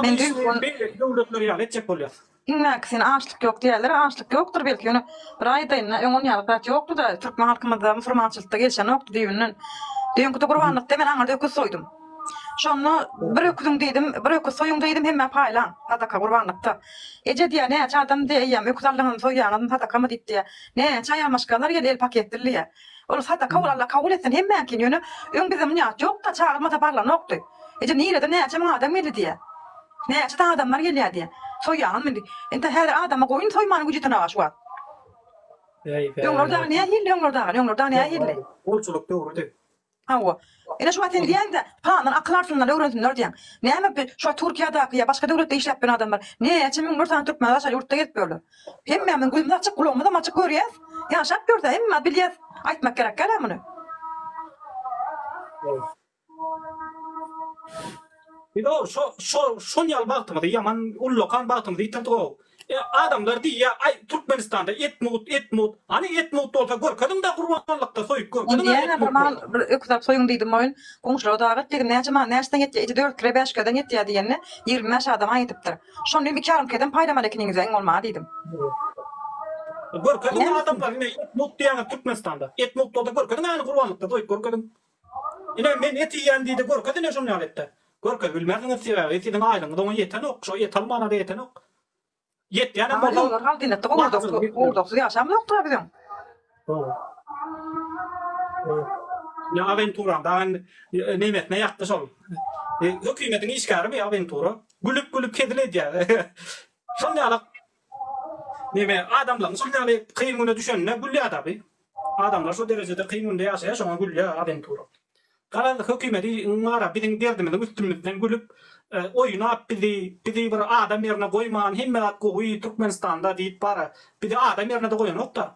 Men düýn beýleki döwletler ýaly etjek bolýas. Iň belki sen açlyk ýok diýýäler, açlyk ýokdur belki ýöne bir aýdaýynda öň onýaly zat ýokduda türkmen halkymyzda musurmançylykda gelişenokdy düýbünden. Düýnki gurbanlykda men aňyrda öküz soýdum. Şonda bir öküziň diýdim, bir öküz soýuň diýdim hemmä paýlaň sadaka gurbanlykda. Eje diýýär näçe adam diýýär eýýäm öküz aldyňyzmy soýýaňyzmy sadakamy diýip diýýär. Näçe aýalmaşgalalar gelýär el paketli diýýär. Ol sadaka ol Alla kabul etsin hemmäňkin ýöne öň bizem niýat ýokda çagyrmasa barlanokdy. Eje nireden näçe müň adam geldi diýýä. Näçe sany adamlar gelýä diýýä. Soýýaňyzmy indi. Indi häzir adama goýun soýmanyň güji ýetenaga şu wagt. Öňler dagy nähildi öňler dagy öňler dagy nähildi. Gulçulyk döwrüdi. Hawa. Ine şuňa sen diýäňdä, plandan akyl alsynlar, öwrensinler diýäň. Näme bi şo Türkiýadaky ýa başga döwletde işläp ýören adamlar näçe müňler sany türkmen daşary ýurtda gezip ýörler. Hemmämiziň gözümiz açyk, gulagymyzam açyk görýäs. Ýaşap ýörüs-ä, hemmämiz bilýäs. Aýtmak gerekkä-le muny. Biz-ow şo şo şol ýaly bagtymyzy, ýaman ullakan bagtymyzy ýitirdik-ow. E adamlar diýýä aý Türkmenistanda et mugt et mugt hany et mugt bolsa görkeziňdä gurbanlykda soýup görkeziň a et mugt bolsa. Diýýäňä bir mal bir öküz alyp soýuň diýdim oýun goňşulara dag etdi näçe mal näçeden ýetýä eti dört kile bäş kileden ýetýä diýende ýigrimi bäş adama ýetipdir şony diýdim iki ýarym kileden paýlamaly ekeniňizä iň bolmany diýdim. Görkeziň adamlar ine et mugt diýýäňiz Türkmenistanda et mugt bolsa görkeziň äni gurbanlykda soýup görkeziň. Ine, men et iýýän diýdi, görkez ine şonýaly etde. Görkez bilmersiňiz, sebäbi siziň aýlygyňyz oňa ýetenok, şo et almana-da ýetenok. Ýetýänem bolsa. Aýlygyň bar, haldenetde gowurdaksyz ýaşam ýokdur-a biziň. Dogry. Ine, awentura, daýym nemesine ýatdy şol. Hökümetiň işgärimi awentura. Gülüp-gülüp hezil edýär. Şonýaly Neme, adamlaryň şol ýaly kyn güne düşenine gülýär-dä bi. Adamlar şo derejede kyn günde ýaşaýar, şoňa gülýär awenturist. Garaz, hökümedi bar-a biziň derdimiziň üstümizden gülüp, oýnap bizi, bizi bir adam ýerine goýman, hemme zat gowy Türkmenistanda diýip bar-a, bizi adam ýerine-de goýanok-da.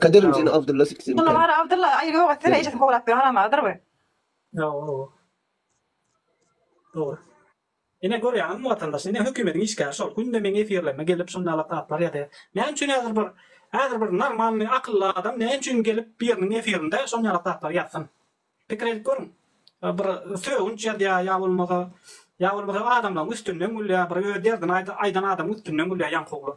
Kaderim seni Abdylla siksin Şonda bari Abdylla aýry ýok etsene ejesini kowlap ýör haram agydyr we. Ýa ow. Dogry. Ine görýäňizmi watandaş ine hökümediň işgäri şol günde meň efirlerime gelip şunda lakaplar ýazýar. Näme üçin häzir bir häzir bir normalnyý akylly adam näme üçin gelip biriniň efirinde şonýa lakaplar ýazsyn. Pikir edip görüň. Bir sögünç ýazýar ýa bolmasa ýa bolmasa adamlaň üstünden gülýär bir öz derdini aýdan adamyň üstünden gülýär ýaňkugly.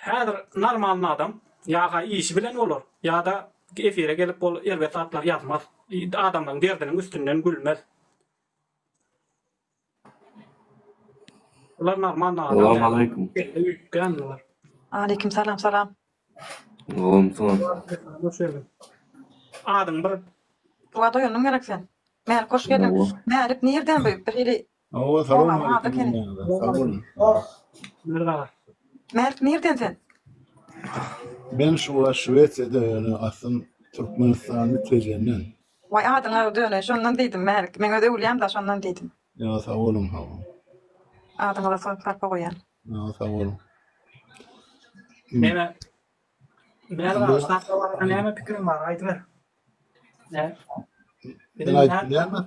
Häzir normalny adam ýa-ha işi bilen bolar, ýa-da efire gelip bol erbet zatlar ýazmaz, adamlaryň derdiniň üstünden gülmez. Bular normalny adam däl. Salam aleýkum. Belli üýtgän bular. Aleýkim salam salam. Salam salam. Hoş geldiň. Adyň bir. Buga doýandyň gerek sen. Mälik hoş geldiň. Mälik nirden bu? Birhili Hawa, salam aleýkum hemmäňize. Sag boluň. Mergen aga. Mert, nirden sen? Men şu wagt Şwesiýada ýöne aslym Türkmenistanly Tejenden. Waý adyňa döneý şondan diýdim Märik. Men öz öwlýäm da şondan diýdim. Ýa sag boluň hawa. Adyňyza sarpa goýýan. Ýa sag boluň. Mena Näme şatda barada näme pikiriň bar, aýdyber. Nä? Men aýdýarmy?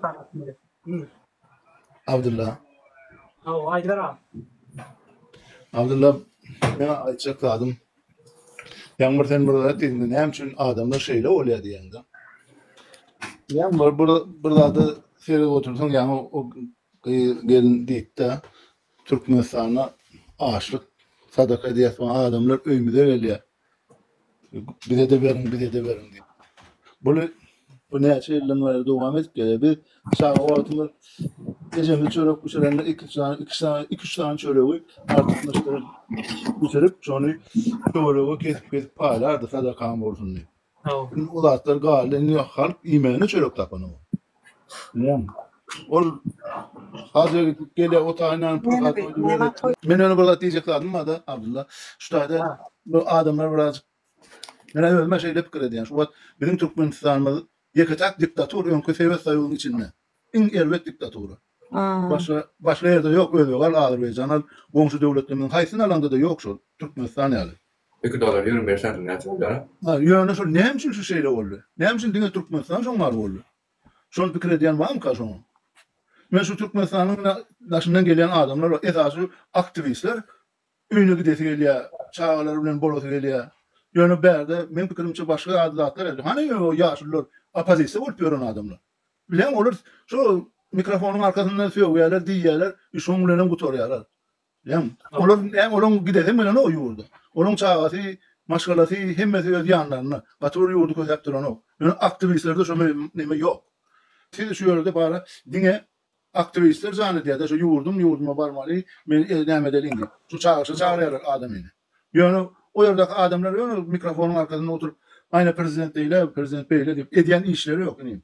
Abdulla. Hawa, aýdyber aga. Abdulla, men aýtjak zadym. Ýaň bir sen bir zat diýdiň, näme üçin adamlar şeýle bolýar diýende. Ýaň bir bir bir zada seredip otursaň, ýaňy o Gyz gelin diýipdä Türkmenistana açlyk sadaka edýäs maňa adamlar öýmüze gelýä bizede beriň bizede beriň diýip. Buly bu näçe ýyldan bäri dowam edip gelýä. Biz çaga wagtymyz ejemiz çörek bişirende iki sany iki sany iki üç sany çöregi artykmaçdyr bişirip şony töwerege kesip kesip paýlardy sadakaň bolsun diýip. Indi o zatlar galdy, indi halk iýmäne çörek tapanok. Näme? Ol haja gidip gelýär, otaýyndan pul Näme gaýdyp diýýär. näme toý? Men ýöne bir zat diýjek zadym barda, Abdylla. Şu taýda Ha. bu adamlar birazajyk Men özüm-ä şeýle pikir edýän. Şu wagt biziň Türkmenistanymyz ýeke-täk diktatura öňki Sowet Soýuzynyň içinde. Iň erbet diktatura. A. Başga başga ýerde ýok, özbek al, azerbaýjan al, goňşy döwletlerimiziň haýsyny alaňda-da ýok şol Türkmenistan ýaly. Iki dolar ýigrimi bes santim näçe bolýar? Ýöne şol näme üçin şu şeýle boldy? Näme üçin diňe Türkmenistan şoň bar boldy? Şol pikir edýän barmyka şoňa? Men şu Türkmenistanyň daşyndan gelýän adamlar bar, esasy aktiwistler öýüne gidesi gelýär, çagalary bilen bolasy gelýär. Ýöne bärde meň pikirimçe başga ýaly zatlar edýär. Hany ýöne ýaşulular, oppozisiýa bolup ýören adamlar? Bileň olar şo mikrofonyň arkasynda sögýärler, diýýärler, şoň bilenem gutarýarlar. Bileň. Olar näme olaň gidesi bilenok o ýurda. Olaň çagasy, maşgalasy hemmesi öz ýanlarynda. Gaty bir ýurdy kösäp duranok. Ýöne aktiwistlerde şo neme ýok. Siz şu ýerde bara diňe aktiwistler jan edýärde şo ýurdum ýurduma barmaly men e näme edeliň diýip. Şo çagyşa çagyrýarlar adamy. Ýöne o ýerdäki adamlar ýöne mikrofonyň arkasynda oturyp aýna prezident beýle prezident beýle diýip edýän işleri ýok inim.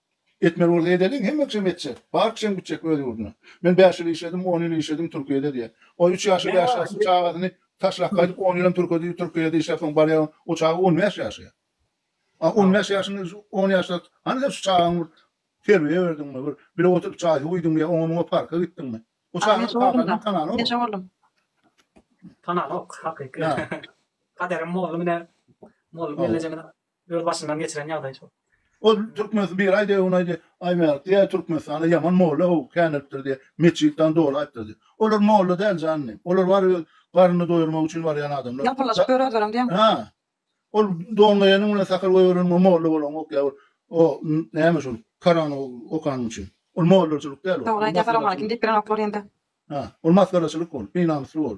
Etmeli bolsa edeliň, hemme kişem etjek. Bar kişem gitjek öz ýurduna. Men bäş ýyl işledim, on ýyl işledim Türkiýede diýýär. Ol üç ýaşly, bäş ýaşly çagasyny taşlap gaýdyp, on ýylam Türkiýede Türkiýede işläp soň barýar, o çaga on bäş ýaşaýar. A on bäş ýaşyňda şu on ýaşda hany sen şu çagaňy bir terbiýe berdiňmi, bir bile oturyp çaý huýduňmy ýa oňa-muňa parka gitdiňmi? O çaganyň kakasynam tanany bor. Tananok hakyky. Kaderim boldy mine. Boldy mellejemine. Öz başyndan geçiren ýagdaý şu. Ol türkmen bir aý degüň aýdy aý märt diýä türkmenistana ýaman molla how känelipdir diýä metjit dan doly aýtdyr diýä olar molla däl jan inim olar bar öz garnyny doýurmak üçin barýan adamlar Ýalpyrylaşyp ýör özlerem diýäň. Hä ol don geýeniň bilen sakal goýberen we molla bolaňok ýa bir o näme şul korany okanyň üçin ol mollaçylyk däl ol Dogry aýdýa salowmaleýkim diýip girenoklar ýende. Hä ol masgaraçylyk ol binamysly ol.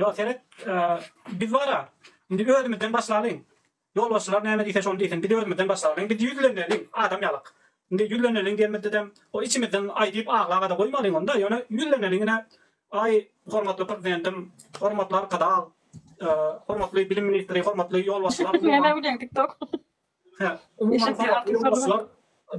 Ýok, seret, biz bar-a. Indi özümizden başlalyň. Ýolbaşçylar näme diýse, şony diýsin. Biz özümizden başlalyň. Biz ýüzleneliň, adam ýalak. Indi ýüzleneliň diýenimizde-de, o içimizden aýdyp aglaba-da goýmalyň onda, ýöne ýüzleneliň ine. Aý, hormatly Prezidentim, hormatly Arkadag, hormatly bilim ministri, hormatly ýolbaşçylar, umuman. Hä, umuman saýat ýolbaşçylar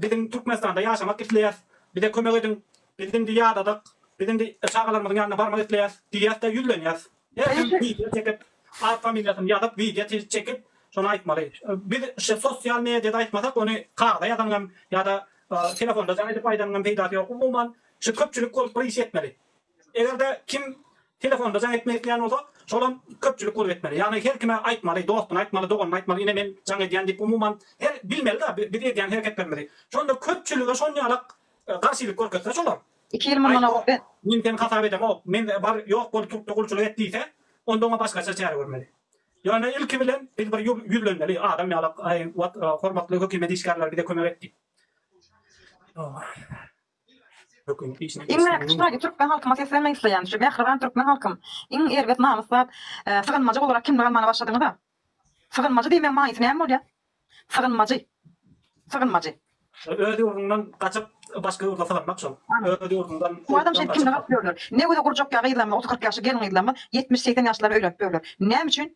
biziň Türkmenistanda ýaşamak isleýäs, bize kömek ediň, biz indi ýadadyk, biz indi çagalarymyzyň ýanyna barmak isleýäs diýýäs-de ýüzlenýäs. Her kim wideo çekip, at familiýasyny ýazyp, wideo çekip, şony aýtmaly. Biz şu sosial mediada aýtmasak, ony kagyza ýazanyňam ýa-da telefonda jaň edip aýdanyňam peýdasy ýok. Umuman, şu köpçülik bolup bir iş etmeli. Eger-de kim telefonda jaň etmek isleýän bolsa, şolam köpçülik bolup etmeli. Ýagny her kime aýtmaly, dostuna aýtmaly, doganyna aýtmaly, ine men jaň edýän diýip umuman her bilmeli-de biz edýän hereketlerimizi. Şonda köpçülige şonýalak garşylyk görkezse şolar. Iki ýyl mundan ozal biz. Men seni hasap edemok, men bar ýok bol türkde gulçulyk et diýse, onda oňa başgaça çäre görmeli. Ýöne ilki bilen biz bir ýüzlenmeli, adam ýalak, aý, wah, hormatly hökümet işgärleri bize kömek et diýip. Iň mähir şaýy türkmen halkyma seslenmek isleýän şu mähriban türkmen halkym iň erbet namyslap sygynmajy olarak kimlik almana başladyňyza sygynmajy diýmeň maýysy näme bolýa sygynmajy sygynmajy. Öz ýurduňdan gaçyp başga ýurda sygynmak şol öz ýurduňdan bu adam şeýdip kimlik alyp ýörler ne göze gurjak ýa gyzlarymyz otuz kyrk ýaşly gelin gyzlarymyz ýetmiş segsen ýaşlara öýlenip ýörler näme üçin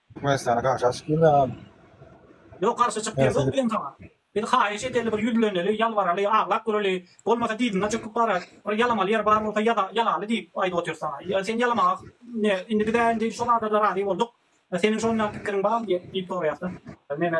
Türkmenistana garşy açyp ýörmän. Ýok garşy çyk gerek ýok diýen saňa. Biz haýyş edeli bir ýüzleneli ýalbaraly aglap göreli bolmasa dyzyna çöküp barat bir ýalamaly ýer bar bolsa ýaza ýalaly diýip aýdyp otyrys saňa ýa sen ýalamaga ne indi bizä indi şo zadada razy bolduk seniň şonda pikiriň barmy diýip soraýasda. Meme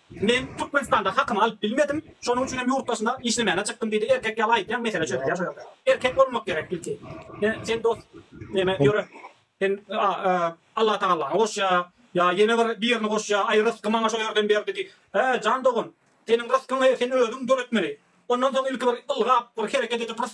Men Türkmenistanda hakymy alyp bilmedim, şonuň üçinem ýurt daşyna işlemäne çykdym diýdi, erkek ýaly aýtýaň mesele çözülýär şo ýerde. Erkek bolmak gerek ilki. Sen dos neme ýöre sen Allatagallany goşýa ýa ýene bir birini goşýa aý rysky maňa şo ýerden berdi diý. Hä jan dogan seniň ryskyňy sen özüň döretmeli. Ondan soň ilki bir ylgap bir hereket edip rys.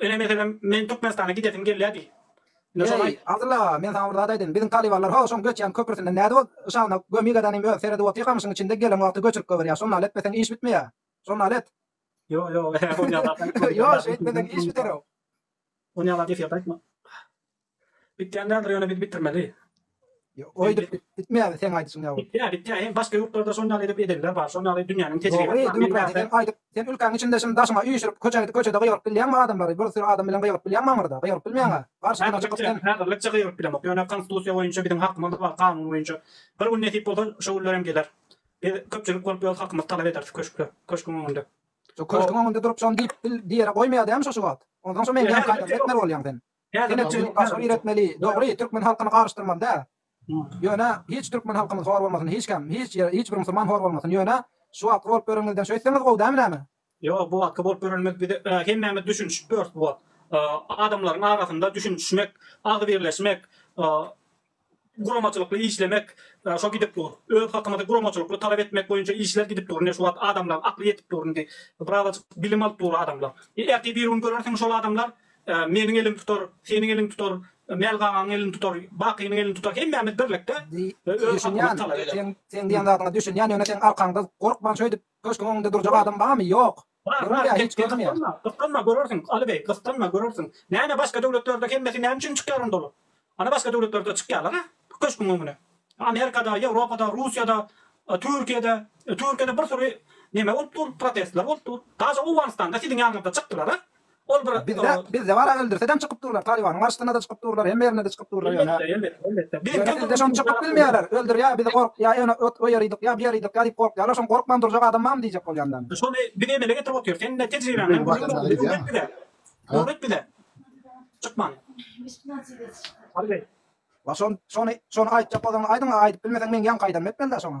Ine meselem men Türkmenistana gidesim gelýär diý. Ine şony aýt. Eý, Abdylla aga, men saňa bir zat aýdaýyn. Biziň talybanlar ho, şoň göçýän köprüsinden nädip ol şawna gömik edenim öz, seredip otyr gamyşyň içinde gelen wagty göçürip goberýär. Şony nal etmeseň iş bitmeýär. Şony nal et. Ýo, ýo, bolýan zat däl. Ýo, şeýtmeseň iş biter-ow. Onýa zat eşiýärdi aýtma. Bitýän däldir ýöne biz bitirmeli. Ýok öýdüp bitmeýär seň aýdyşyň ýaly. Bitýär bitýär hem başga ýurtlarda şon ýaly edip edenler bar şon ýaly dünýäniň tejribesi bar men bärde. Sen aýdyp sen ülkäň içinde şindi daşyňa üýşürip köçe gidip köçede gygyryp bilýäňmi adamlary bir süri adam bilen gygyryp bilýäňmi aňyrda gygyryp bilmeýäňä garşysyna çykyp sen. Häzirlikçe gygyryp bilemok ýöne konstitusiýa boýunça biziň hakymyz bar kanun boýunça bir gün nesip bolsa şo günler hem geler biz köpçülik bolup öz hakymyzy talap ederis köşkde köşküň öňünde. Şo köşküň öňünde durup şony diýip dil diýere goýmaýa dämi şo şu wagt onsoň şo meňzeýän kaýdaňy etmeli bolýaň sen. Ine çyn gaşa bir etmeli. Dogry, türkmen halkyny garyşdyrmaly däl. Ýöne hiç türkmen halkymyz hor bolmasyn, hiç kim, hiç ýer, hiç bir musulman hor bolmasyn. Ýöne şu wagtky bolup ýörenimizden şeýtseňiz gowy dämi näme? Ýok, bu wagtky bolup ýörenimiz biz hemmämiz düşünişip ýörüs bu wagt. Adamlaryň arasynda düşünişmek, agzybirleşmek, Guramaçylykly işlemek şo gidip dur. Öz halkymyzy guramaçylykly talap etmek boýunça işler gidip dur. Ine şu wagt adamlaň akly ýetip dur indi. Birazajyk bilim alyp dur adamlar. Ertir bir gün görersiň şol adamlar meniň elim tutar, seniň eliň tutar, Mälgagaň elini tutar, Bakynyň elini tutar hemmämiz birlikde öz halkymyzy talap ederis. Düşünýän. Sen diýen zadyňa düşünýän ýöne seň arkaňda gorkman şöýdip Köşgüň öňünde durjak adam barmy? Ýok. Bar, bar, gep gysganma, gysganma, görersiň, Aly beý, gysganma, görersiň. Näme, başga döwletlerde hemmesi näme üçin çykýar onda olar? Ana, başga döwletlerde çykýarlar-a köşgüň öňüne. Amerikada, Ýewropada, Russiýada, Türkiýede, Türkiýede bir süri neme bolup dur, protestler bolup dur. Daşy Owganystanda siziň ýanyňyzda çykdylar-a. Ol bir Bizde bizde bar aga öldürse dem çykyp durlar talibanyň arşdynada çykyp durlar hemme ýerinde de çykyp durlar ýöne ýöne bizde şony çykyp bilmeýärler öldürýä bizi gork ýa ýöne ot oýarydyk ýa buýarydyk ýa diýip gorkýarlar şony gorkman durjak adam barmy diýjek bolýan däl men. Şony biz emele getirip otyr sen de tejribeňden öwret bize öwret bize çykmany. Şony şony aýtjak bolsaňyz aýdyň a aýdyp bilmeseň meň ýaňky aýdanym etmeli dä şoňa.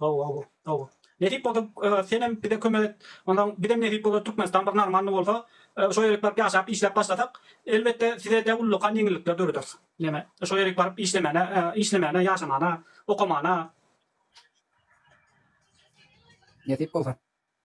Gowy gowy gowy. Nesip bolsa senem bize kömek et. Onsoň bizem nesip bolsa Türkmenistan bir normalny bolsa şo ýerik baryp ýaşap işläp başlasak elbetde sizede ullakan ýeňillikler dörederis. Ýene şo ýerik baryp işlemäne işlemäne ýaşamana okamana. Nesip bolsa.